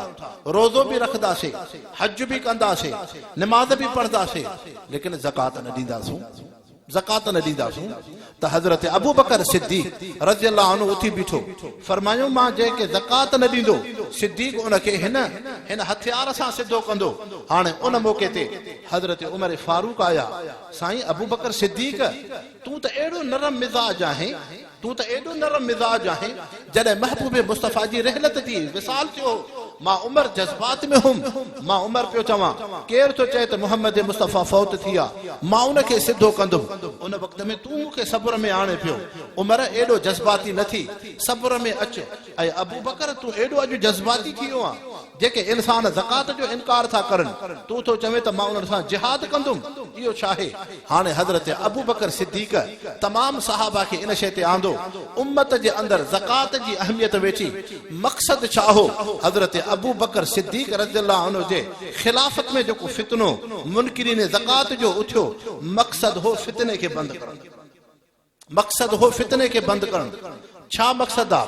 روزو به رکنداسين، حج به ڪنداسين، نماز به پڙهنداسين، ليڪن زڪوات نه ڏينداسون. زڪوات نه ڏينداسون ته حضرت ابوبڪر صديق رضي الله عنه اٿي بيٺو، فرمايو مان جنهن کي زڪوات نه ڏيندو صديق ان کي هن هن هٿيار سان سڌو ڪندو هاڻي ان موقعي تي حضرت عمر فاروق آيا سائين ابوبڪر صديق تون ته اهڙو نرم مزاج آهين تون ته ايڏو نرم مزاج آهين، جڏهن محبوب مصطفيٰ جي رحلت ٿي، وصال ٿيو هو، مان عمر جذبات ۾ هوم، مان عمر پيو چوان، ڪير ٿو چئي ته محمد مصطفيٰ فوت ٿي آ، مان ان کي سڌو ڪندم، ان وقت ۾ تون مون کي صبر ۾ آڻي پيو، عمر ايڏو جذباتي نه ٿي، صبر ۾ اچ، اي ابوبڪر تون ايڏو اڄ جذباتي ٿي ويو آن، جيڪي انسان زڪوات جو انڪار ٿا ڪرن، تون ٿو چوين ته مان انهن سان جهاد ڪندم، اهو ڇاهي؟ هاڻي حضرت ابوبڪر صديق تمام صحابه کي ان شيء تي آندو، امت جي اندر زڪوات جي اهميت ويٺي، مقصد ڇا هو؟ حضرت ابوبڪر صديق رضي الله عنه جي خلافت ۾ جيڪو فتنو منڪرين زڪوات جو اٿيو، مقصد هو فتني کي بند ڪرڻ. مقصد هو فتني کي بند ڪرڻ. ڇا مقصد آ؟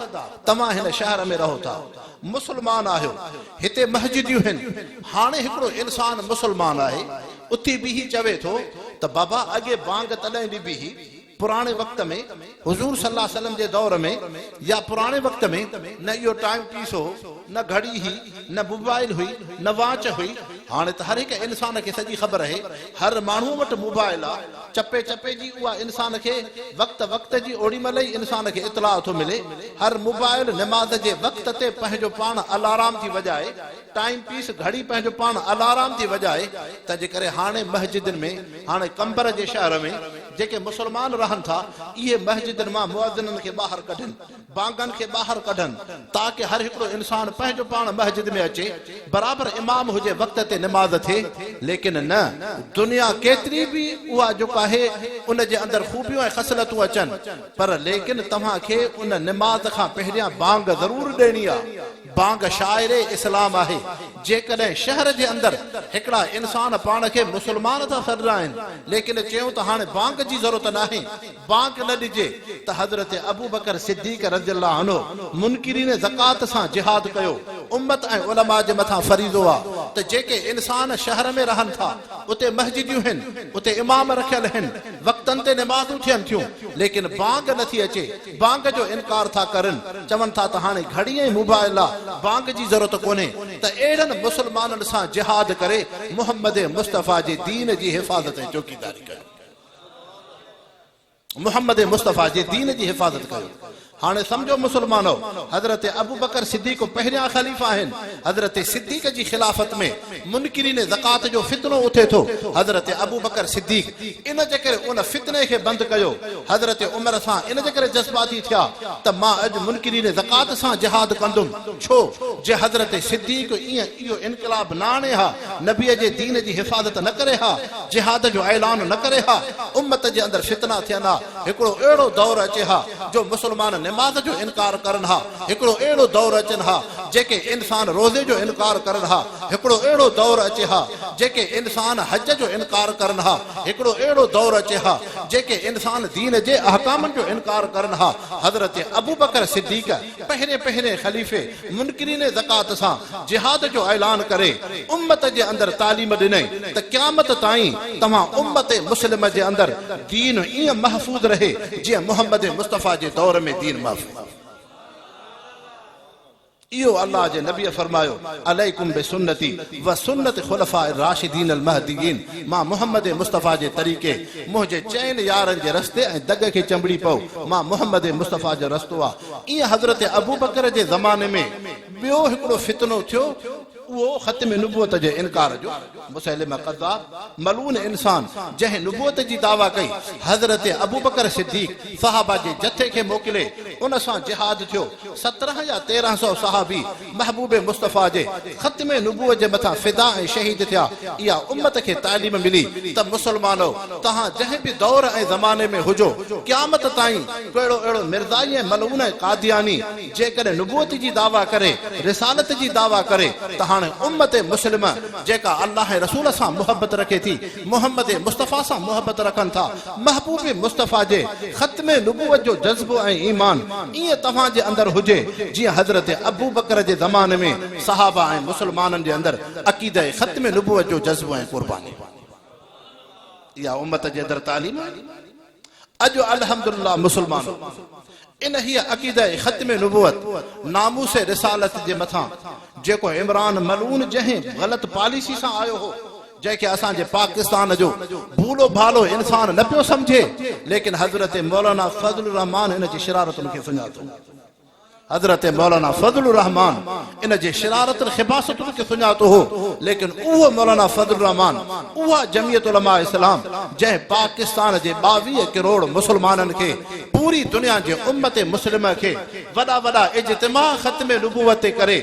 توهان هن شهر ۾ رهو ٿا. مسلمان آهيو. هتي مسجديون هن. هاڻي هڪڙو انسان مسلمان آهي. اٿي بيهي چوي ٿو ته بابا اڳي بانگ تڏهن ڏبي هئي. پراڻي وقت ۾ حضور صلي الله عليه وسلم جي دور ۾ يا پراڻي وقت ۾ نه اهو ٽائيم پيس هو، نه گهڙي هئي، نه موبائل هئي، نه واچ هئي. هاڻي ته هر هڪ انسان کي سڄي خبر اهي. هر ماڻهوء وٽ موبائل آ. چپي چپي جي اها انسان کي وقت وقت جي اوڙيمهل ئي انسان کي اطلاع ٿو ملي هر موبائل نماز جي وقت تي پنهنجو پاڻ الارام ٿي وڄائي ٽائيم پيس گهڙي پنهنجو پاڻ الارام ٿي وڄائي تنهن جي ڪري هاڻي مسجدن ۾ هاڻي قمبر جي شهر ۾ جيڪي مسلمان رهن ٿا اهي مسجدن مان مؤذنن کي ٻاهر ڪڍن ڀاڱن کي ٻاهر ڪڍن تاڪه هر هڪڙو انسان پنهنجو پاڻ مسجد ۾ اچي برابر امام هجي وقت تي نماز ٿئي ليڪن نه دنيا ڪيتري به اها جيڪو آهي ان جي اندر خوبيون ۽ خصلتون اچن پر ليڪن توهان کي ان نماز کان پهريان ڀاڱ ضرور ڏيڻي آ ڀاڱ شاعري اسلام آهي جيڪڏهن شهر جي اندر هڪڙا انسان پاڻ کي مسلمان ٿا سڏرائين ليڪن چيون ته هاڻي ڀاڱ جي ضرورت ناهي بانڪ نه ڏجي ته حضرت ابوبڪر صديق رضي الله عنه منڪرين زڪوات سان جهاد ڪيو، امت ۽ علماء جي مٿان فريضو آ ته جيڪي انسان شهر ۾ رهن ٿا اتي مسجديون هن اتي امام رکيل هن وقتن تي نمازون ٿين ٿيون ليڪن بانگ نه ٿي اچي بانگ جو انڪار ٿا ڪرن چون ٿا ته هاڻي گهڙي ۽ موبائل لا بانگ جي ضرورت ڪونهي ته اهڙن مسلمانن سان جهاد ڪري محمد مصطفيٰ جي دين جي حفاظت ۽ چوڪيداري ڪيو. محمد مصطفيٰ جي دين جي حفاظت ڪيو. هاڻي سمجهو مسلمانو! حضرت ابوبڪر صديق پهريان خليفه آهن. حضرت صديق جي خلافت ۾ منڪرين زڪوات جو فتنو اٿي ٿو. حضرت ابوبڪر صديق ان جي ڪري ان فتني کي بند ڪيو. حضرت عمر سان ان جي ڪري جذباتي ٿيا ته مان اڄ منڪرين زڪوات سان جهاد ڪندم. ڇو جي حضرت صديق ائين اهو انقلاب نه آڻي ها، نبيء جي دين جي حفاظت نه ڪري ها، جهاد جو اعلان نه ڪري ها، امت جي اندر فتنا ٿين ها، هڪڙو اهڙو دور اچي ها جو مسلمان نماز جو انڪار ڪرن ها، هڪڙو اهڙو دور اچن ها جيڪي انسان روزي جو انڪار ڪرن ها، هڪڙو اهڙو دور اچي ها جيڪي انسان حج جو انڪار ڪرن ها، هڪڙو اهڙو دور اچي ها جيڪي انسان دين جي احڪامن جو انڪار ڪرن ها، حضرت ابوبڪر صديق. پهرين پهرين خليفي منڪرين زڪوات سان جهاد جو اعلان ڪري امت جي اندر تعليم ڏني ته قيامت تائين توهان امت مسلمه جي اندر دين ائين محفوظ رهي جيئن محمد مصطفيٰ جي دور ۾ دين محفوظ اهو الله جي نبيء فرمايو عليڪم بسنتي وسنت خلفاء الراشدين المهديين مان محمد مصطفيٰ جي طريقي منهنجي چئن يارن جي رستي ۽ دڳ کي چنبڙي پئو، مان محمد مصطفيٰ جو رستو آ. ايئن حضرت ابوبڪر جي زماني ۾ ٻيو هڪڙو فتنو ٿيو، اهو ختم نبوت جي انڪار جو، مسيلمه ڪذاب، ملعون انسان، جنهن نبوت جي دعويٰ ڪئي، حضرت ابوبڪر صديق صحابه جي جٿي کي موڪلي، ان سان جهاد ٿيو، سترهن يا تيرهن سؤ صحابي محبوب مصطفيٰ جي ختم نبوت جي مٿان فدا ۽ شهيد ٿيا، اها امت کي تعليم ملي ته مسلمانؤ! توهان جنهن به دور ۽ زماني ۾ هجو، قيامت تائين ڪهڙو اهڙو مرزائي ۽ ملعون ۽ قادياني جيڪڏهن نبوت جي دعويٰ ڪري، رسالت جي دعويٰ ڪري ته هاڻي امت مسلمه جيڪا الله ۽ رسول سان محبت رکي ٿي، محمد مصطفيٰ سان محبت رکن ٿا، محبوب مصطفيٰ جي ختم نبوت جو جذبو ۽ ايمان ائين توهان جي اندر هجي جيئن حضرت ابوبڪر جي زماني ۾ صحابه ۽ مسلمانن جي اندر عقيده ختم نبوت جو جذبو ۽ قرباني اها امت جي اندر تعليم آهي اڄ الحمدلله مسلمان انهيء عقيده ختم نبوت، ناموس رسالت جي مٿان جيڪو عمران ملعون جنهن غلط پاليسي سان آيو هو، جنهن کي اسان جي پاڪستان جو ڀولو ڀالو انسان نه پيو سمجهي، ليڪن حضرت مولانا فضل الرحمان ان جي شرارتن کي سڃاتو. حضرت مولانا فضل الرحمان ان جي شرارتن خباثتن کي سڃاتو هو ليڪن اهو مولانا فضل الرحمان اها جمعيت علماء اسلام جنهن پاڪستان جي ٻاويهه ڪروڙ مسلمانن کي پوري دنيا جي امت مسلمه کي وڏا وڏا اجتماع ختم نبوت تي ڪري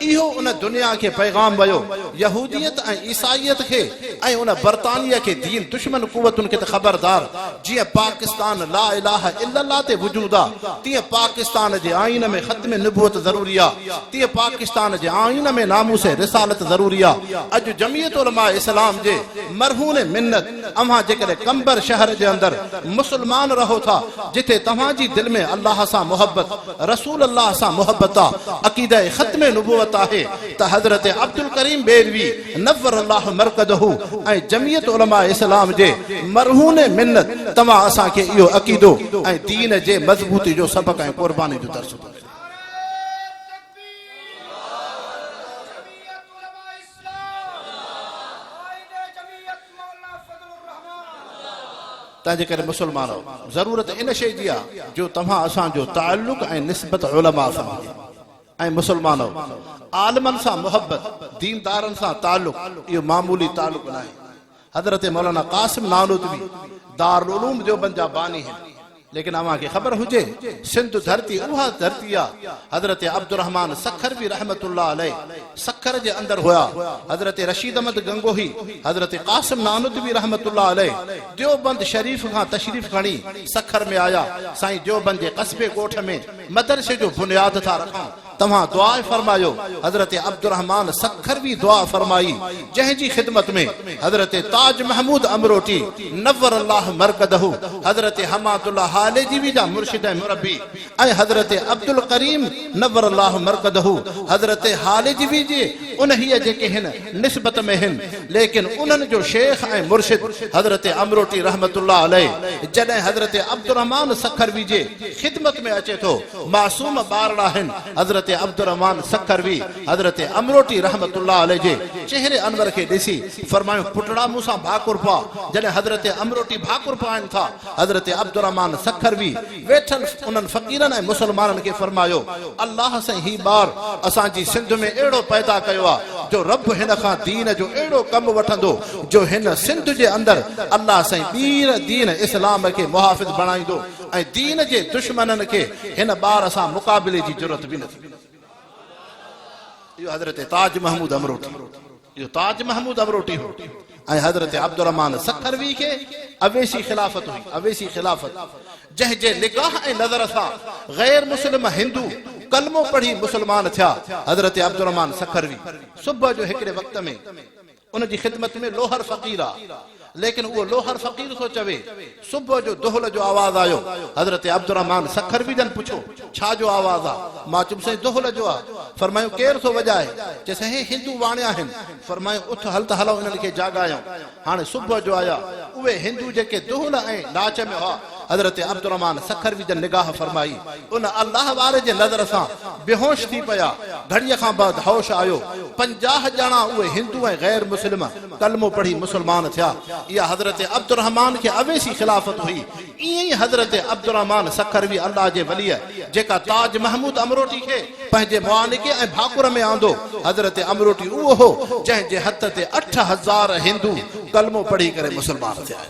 اهو ان دنيا کي پيغام ويو يهوديت ۽ عيسائيت کي ۽ ان برطانيه کي دين دشمن قوتن کي ته خبردار جيئن پاڪستان لا اله الا الله تي وجود آ تيئن پاڪستان جي آئين ۾ ختم نبوت ضروري آ تيئن پاڪستان جي آئين ۾ ناموس رسالت ضروري آ اڄ جمعيت علماء اسلام جي مرهون منت اوهان جيڪڏهن قمبر شهر جي اندر مسلمان رهو ٿا جتي توهان جي دل ۾ الله سان محبت رسول الله سان محبت آ عقيده ختم نبوت آهي ته حضرت عبدالڪريم بيلوي نور الله مرقده ۽ جمعيت علماء اسلام جي مرهون منت توهان اسان کي اهو عقيدو ۽ دين جي مضبوطي جو سبق ۽ قرباني جو درس ٿو ڏيو. تنهنجي ڪري مسلمانو ضرورت ان شيء جي آهي جو توهان اسان جو تعلق ۽ نسبت علماء سان هجي. اي مسلمانؤ! عالمن سان محبت، ديندارن سان تعلق، اهو معمولي تعلق ناهي. حضرت مولانا قاسم نانوتوي دارالعلوم ديوبند جا باني هن. ليڪن اوهان کي خبر هجي، سنڌ ڌرتي اها ڌرتي آ، حضرت عبدالرحمان سکروي رحمة الله عليه سکر جي اندر هيا، حضرت رشيد احمد گنگوهي، حضرت قاسم نانوتوي رحمة الله عليه ديوبند شريف کان تشريف کڻي سکر ۾ آيا، سائين ديوبند جي قصبي ڳوٺ ۾. مدرسي جو بنياد ٿا رکون توهان دعا فرمايو حضرت عبدالرحمان سکروي دعا فرمائي جنهن جي خدمت ۾ حضرت تاج محمود امروٽي نور الله مرقده حضرت حماد الله هاليجي وي جا مرشد ۽ مربي ۽ حضرت عبدالڪريم نور الله مرقده حضرت هاليجي وي جي انهيء جيڪي هن نسبت ۾ هن، ليڪن انهن جو شيخ ۽ مرشد حضرت امروٽي رحمة الله عليه جڏهن حضرت عبدالرحمان سکروي جي خدمت ۾ اچي ٿو، معصوم ٻارڙا هن حضرت عبدالرحمان سکروي حضرت امروٽي رحمة الله عليه جي چهري انور کي ڏسي فرمايون پٽڙا مون سان ڀاڪر پاء جڏهن حضرت امروٽي ڀاڪر پائين ٿا حضرت عبدالرحمان سکروي ويٺل انهن فقيرن ۽ مسلمانن کي فرمايو، الله سائين هي ٻار اسان جي سنڌ ۾ اهڙو پيدا ڪيو آ جو رب هن کان دين جو اهڙو ڪم وٺندو جو هن سنڌ جي اندر الله سائين ٻيهر دين اسلام کي محافظ بڻائيندو ۽ دين جي دشمنن کي هن ٻار سان مقابلي جي جرئت به نه ٿيندي. اهو حضرت تاج محمود امروٽي اهو تاج محمود امروٽي هو ۽ حضرت عبدالرحمان سکروي کي اويسي خلافت هئي اويسي خلافت جنهن جي نگاهه ۽ نظر سان غير مسلم هندو ڪلمو پڙهي مسلمان ٿيا حضرت عبدالرحمان سکروي صبح جو هڪڙي وقت ۾ ان جي خدمت ۾ لوهر فقير آ. ليڪن اهو لوهر فقير ٿو چوي. صبح جو دهل جو آواز آيو. حضرت عبدالرحمان سکروي جن پڇيو، ڇا جو آواز آ؟ مان چيم سائين دهل جو آ. فرمايون ڪير ٿو وڄائي؟ چي سائين هندو واڻيا آهن. فرمايون اٿ هل ته هلئون انهن کي جاڳايون. هاڻي صبح جو آيا. اهي هندو جيڪي دهل ۽ ناچ ۾ هئا. حضرت عبدالرحمان سکروي جن نگاهه فرمائي، ان الله واري جي نظر سان بيهوش ٿي پيا، گهڙيء کان بعد هوش آيو، پنجاهه ڄڻا اهي هندو ۽ غير مسلم ڪلمو پڙهي مسلمان ٿيا، اها حضرت عبدالرحمان کي اويسي خلافت هئي، ائين ئي حضرت عبدالرحمان سکروي الله جي وليء جيڪا تاج محمود امروٽي کي پنهنجي معانڪي ۽ ڀاڪر ۾ آندو، حضرت امروٽي اهو هو، جنهن جي هٿ تي اٺ هزار هندو ڪلمو پڙهي ڪري مسلمان ٿيا.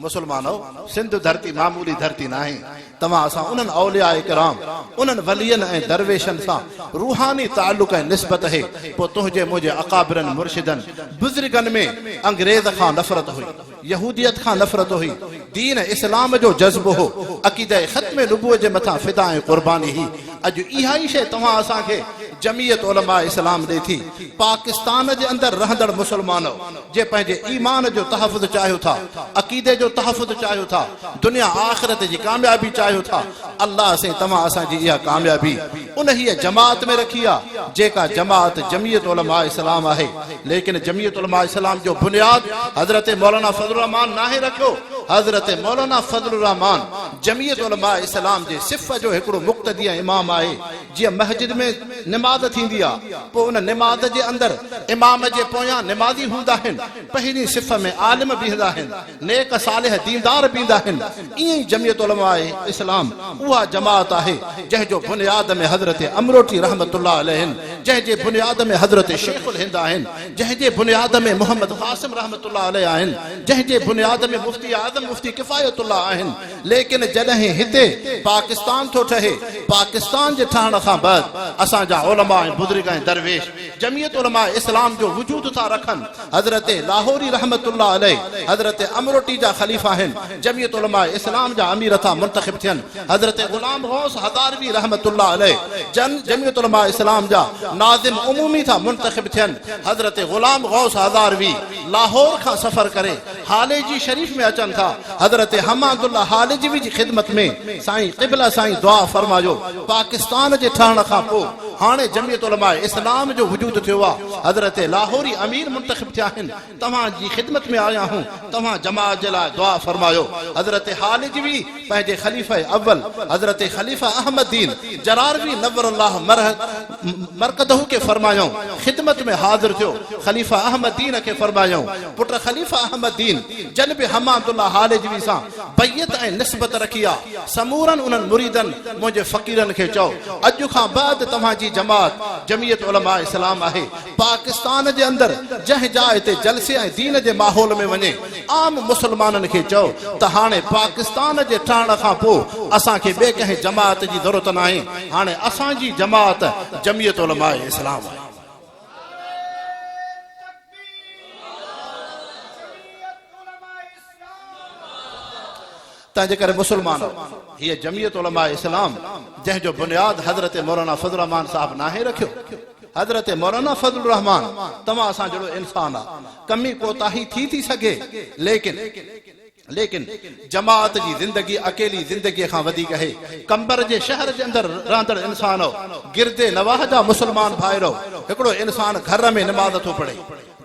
مسلمانو سنڌ ڌرتي معمولي ڌرتي ناهي توهان اسان انهن اولياء ڪرام انهن ولين ۽ درويشن سان روحاني تعلق ۽ نسبت هي پو تنهنجي منهنجي اڪابرن مرشدن بزرگن ۾ انگريز کان نفرت هئي يهوديت کان نفرت هئي دين اسلام جو جذبو هو عقيده ختم نبوت جي مٿان فدا ۽ قرباني هي اڄ اها ئي شيء توهان اسان کي جمعيت علماء اسلام ڏي ٿي پاڪستان جي اندر رهندڙ مسلمانو جي پنهنجي ايمان جو تحفظ چاهيو ٿا، عقيدي جو تحفظ چاهيو ٿا، دنيا آخرت جي ڪاميابي چاهيو ٿا، الله سائين توهان اسان جي اها ڪاميابي انهيء جماعت ۾ رکي آ، جيڪا جماعت جميعت علماء اسلام آهي، ليڪن جميعت علماء اسلام جو بنياد حضرت مولانا فضل الرحمان ناهي رکيو، حضرت مولانا فضل الرحمان جميعت علماء اسلام جي صف جو هڪڙو مقتدي ۽ امام آهي، جيئن مسجد ۾ نماز ٿيندي آ پوء ان نماز جي اندر امام جي پويان نمازي هوندا آهن پهرين صف ۾ عالم بيهندا آهن نيڪ صالح ديندار بيهندا آهن ائين ئي جميعت علماء اسلام اها جماعت آهي جنهن جو بنياد ۾ حضرت امروٽي رحمة الله عليه آهن جنهن جي بنياد ۾ حضرت شيخ الهند آهن جنهن جي بنياد ۾ محمد قاسم رحمة الله عليه آهن جنهن جي بنياد ۾ مفتي اعظم مفتي ڪفايت الله آهن ليڪن جڏهن هتي پاڪستان ٿو ٺهي، پاڪستان جي ٺهڻ کان بعد اسان جا علماء ۽ بزرگ ۽ درويش جمعيت علماء اسلام جو وجود ٿا رکن. حضرت لاهوري رحمة الله عليه حضرت امروٽي جا خليفا آهن، جمعيت علماء اسلام جا امير ٿا منتخب ٿين، حضرت غلام غوث هزاروي رحمة الله عليه جن جمعيت علماء اسلام جا ناظم عمومي ٿا منتخب ٿين، حضرت غلام غوث هزاروي لاهور کان سفر ڪري هاليجي شريف ۾ اچن ٿا حضرت حماد الله هاليجوي جي خدمت ۾ سائين قبله سائين دعا فرمايو پاڪستان جي ٺهڻ کان پو هاڻي جميعت علماء اسلام جو وجود ٿيو آ حضرت لاهوري امير منتخب ٿيا هن توهان جي خدمت ۾ آيا هون توهان جماعت جي لاء دعا فرمايو حضرت هاليجوي پنهنجي خليفه اول حضرت خليفه احمد دين جراروي نور الله مرهه مرقده کي فرمايائون خدمت ۾ حاضر ٿيو، خليفه احمد دين کي فرمايائون پٽ خليفه احمد دين جن به حماد الله هالجوي سان بيعت ۽ نسبت رکي آ، سمورن انهن مريدن منهنجي فقيرن کي چئو اڄ کان بعد توهان جي جماعت جميعت علماء اسلام آهي، پاڪستان جي اندر جنهن جاء تي جلسي ۽ دين جي ماحول ۾ وڃي عام مسلمانن کي چئو ته هاڻي پاڪستان جي ٺهڻ کان پوء اسان کي ٻي ڪنهن جماعت جي ضرورت ناهي هاڻي اسان جي جماعت جميعت علماء اسلام آهي. تنهن جي ڪري مسلمانو! هيء جمعيت علماء اسلام جنهن جو بنياد حضرت مولانا فضل الرحمان صاحب ناهي رکيو. حضرت مولانا فضل الرحمان توهان اسان جهڙو انسان آ. ڪمي ڪوتاهي ٿي ٿي سگهي ليڪن ليڪن جماعت جي زندگي اڪيلي زندگيء کان وڌيڪ هي. قمبر جي شهر جي اندر رهندڙ انسانؤ! گردي نواح جا مسلمان ڀائرؤ! هڪڙو انسان گهر ۾ نماز ٿو پڙهي.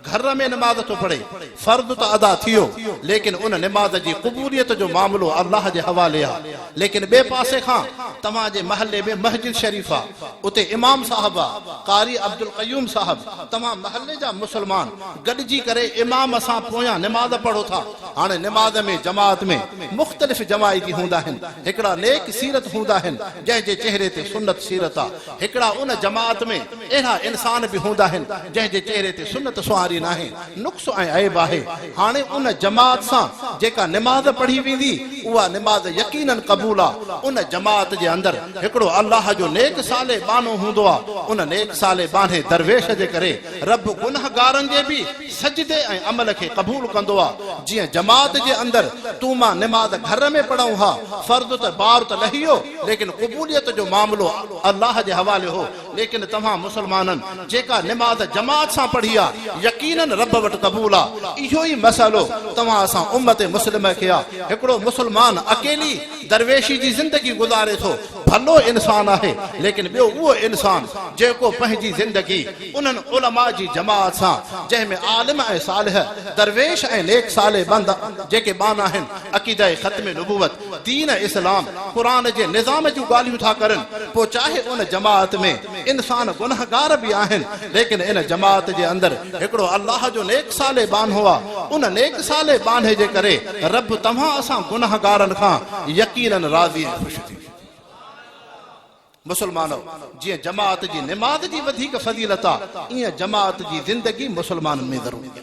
گهر ۾ نماز ٿو پڙهي، فرض ته ادا ٿيو، ليڪن ان نماز جي قبوليت جو معاملو الله جي حوالي آ، ليڪن ٻئي پاسي کان توهان جي محلي ۾ مسجد شريف آ، اتي امام صاحب آ، قاري عبدالقيوم صاحب، توهان محلي جا مسلمان گڏجي ڪري امام سان پويان نماز پڙهو ٿا، هاڻي نماز ۾ جماعت ۾ مختلف جماعتي هوندا آهن، هڪڙا نيڪ سيرت هوندا آهن، جنهن جي چهري تي سنت سيرت آ، هڪڙا ان جماعت ۾. اهڙا انسان به هوندا آهن جنهن جي چهري تي سنت سونهاري ناهي، نقص ۽ عيب آهي. هاڻي ان جماعت سان جيڪا نماز پڙهي ويندي، اها نماز يقيناً قبول آ. ان جماعت جي اندر هڪڙو الله جو نيڪ صالح ٻانهو هوندو آ. ان نيڪ صالح ٻانهي درويش جي ڪري رب گنهگارن جي به سجدي ۽ عمل کي قبول ڪندو آ. جيئن جماعت جي اندر تون مان نماز گهر ۾ پڙهون ها، فرض ته بار ته لهي ويو، ليڪن قبوليت جو معاملو الله جي حوالي هو. ليڪن توهان مسلمانن جيڪا نماز جماعت سان پڙهي آ يقينن رب وٽ قبول آ اهو ئي مسئلو توهان اسان امت مسلمه کي آ هڪڙو مسلمان اڪيلي درويشي جي زندگي گذاري ٿو ڀلو انسان آهي ليڪن ٻيو اهو انسان جيڪو پنهنجي زندگي انهن علماء جي جماعت سان جنهن ۾ عالم ۽ صالح درويش ۽ نيڪ صالح بند جيڪي ٻانهن آهن عقيده ختم نبوت دين اسلام قرآن جي نظام جون ڳالهيون ٿا ڪرن پوء چاهي ان جماعت ۾ انسان گنهگار به آهن ليڪن ان جماعت جي اندر هڪڙو الله جو نيڪ صالح ٻانهو آ ان نيڪ صالح ٻانهي جي ڪري رب توهان اسان گنهگارن کان يقيناً راضي ۽ خوش ٿيندو. مسلمانو! جيئن جماعت جي نماز جي وڌيڪ فضيلت آ ايئن جماعت جي زندگي مسلمانن ۾ ضروري آ.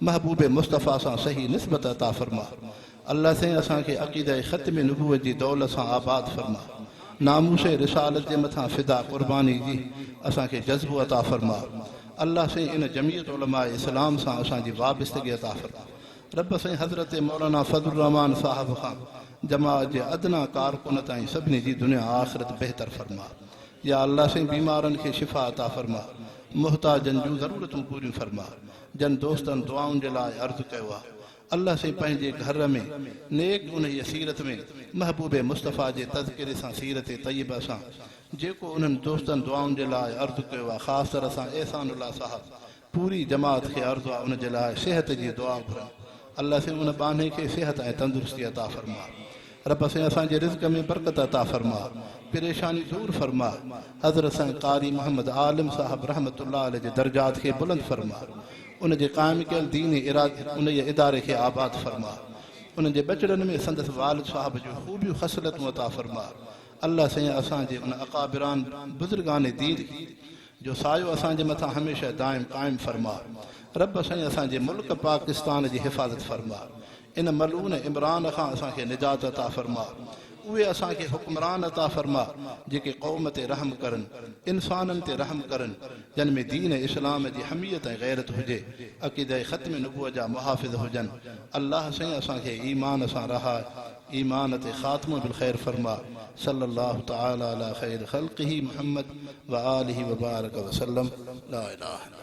محبوب مصطفيٰ سان صحيح نسبت عطا فرما الله سائين اسان کي عقيده ختم نبوت جي دولت سان آباد فرما ناموس رسالت جي مٿان فدا قرباني جي اسان کي جذبو عطا فرما الله سائين ان جمعيت علماء اسلام سان اسان جي وابستگي عطا فرما رب سائين حضرت مولانا فضل الرحمان صاحب کان جماعت جي ادنيٰ ڪارڪن تائين سڀني جي دنيا آخرت بهتر فرما يا الله سائين بيمارن کي شفا عطا فرما محتاجن جون ضرورتون پوريون فرما جن دوستن دعائن جي لاء عرض ڪيو آ الله سين پنهنجي گهر ۾ نيڪ انهيء سيرت ۾ محبوب مصطفيٰ جي تذڪري سان سيرت طيبه سان جيڪو انهن دوستن دعائن جي لاء عرض ڪيو آ خاص طرح سان احسان الله صاحب پوري جماعت کي عرض آ ان جي لاء صحت جي دعا گهرن الله سين ان ٻانهي کي صحت ۽ تندرستي عطا فرماء رب سائين اسان جي رزق ۾ برڪت عطا فرما پريشاني دور فرما حضرت سائين قاري محمد عالم صاحب رحمة الله عليه جي درجات کي بلند فرما ان جي قائم ڪيل دين اراد انهيء اداري کي آباد فرما انهن جي ٻچڙن ۾ سندس والد صاحب جون خوبيون خصلتون عطا فرما الله سائين اسان جي ان اڪابران بزرگان دين جو سايو اسان جي مٿان هميشه دائم قائم فرما رب سائين اسان جي ملڪ پاڪستان جي حفاظت فرما ان ملعون عمران کان اسان کي نجات عطا فرماء. اهي اسان کي حڪمران عطا فرماء جيڪي قوم تي رحم ڪرن، انسانن تي رحم ڪرن، جن ۾ دين اسلام جي حميت ۽ غيرت هجي، عقيده ختم نبوت جا محافظ هجن. الله سائين اسان کي ايمان سان رهاء، ايمان تي خاتمو بالخير فرماء. صلّي الله تعالٰي عليٰ خير خلقه محمّد وآله وبارڪ وسلّم. لا اله الا الله.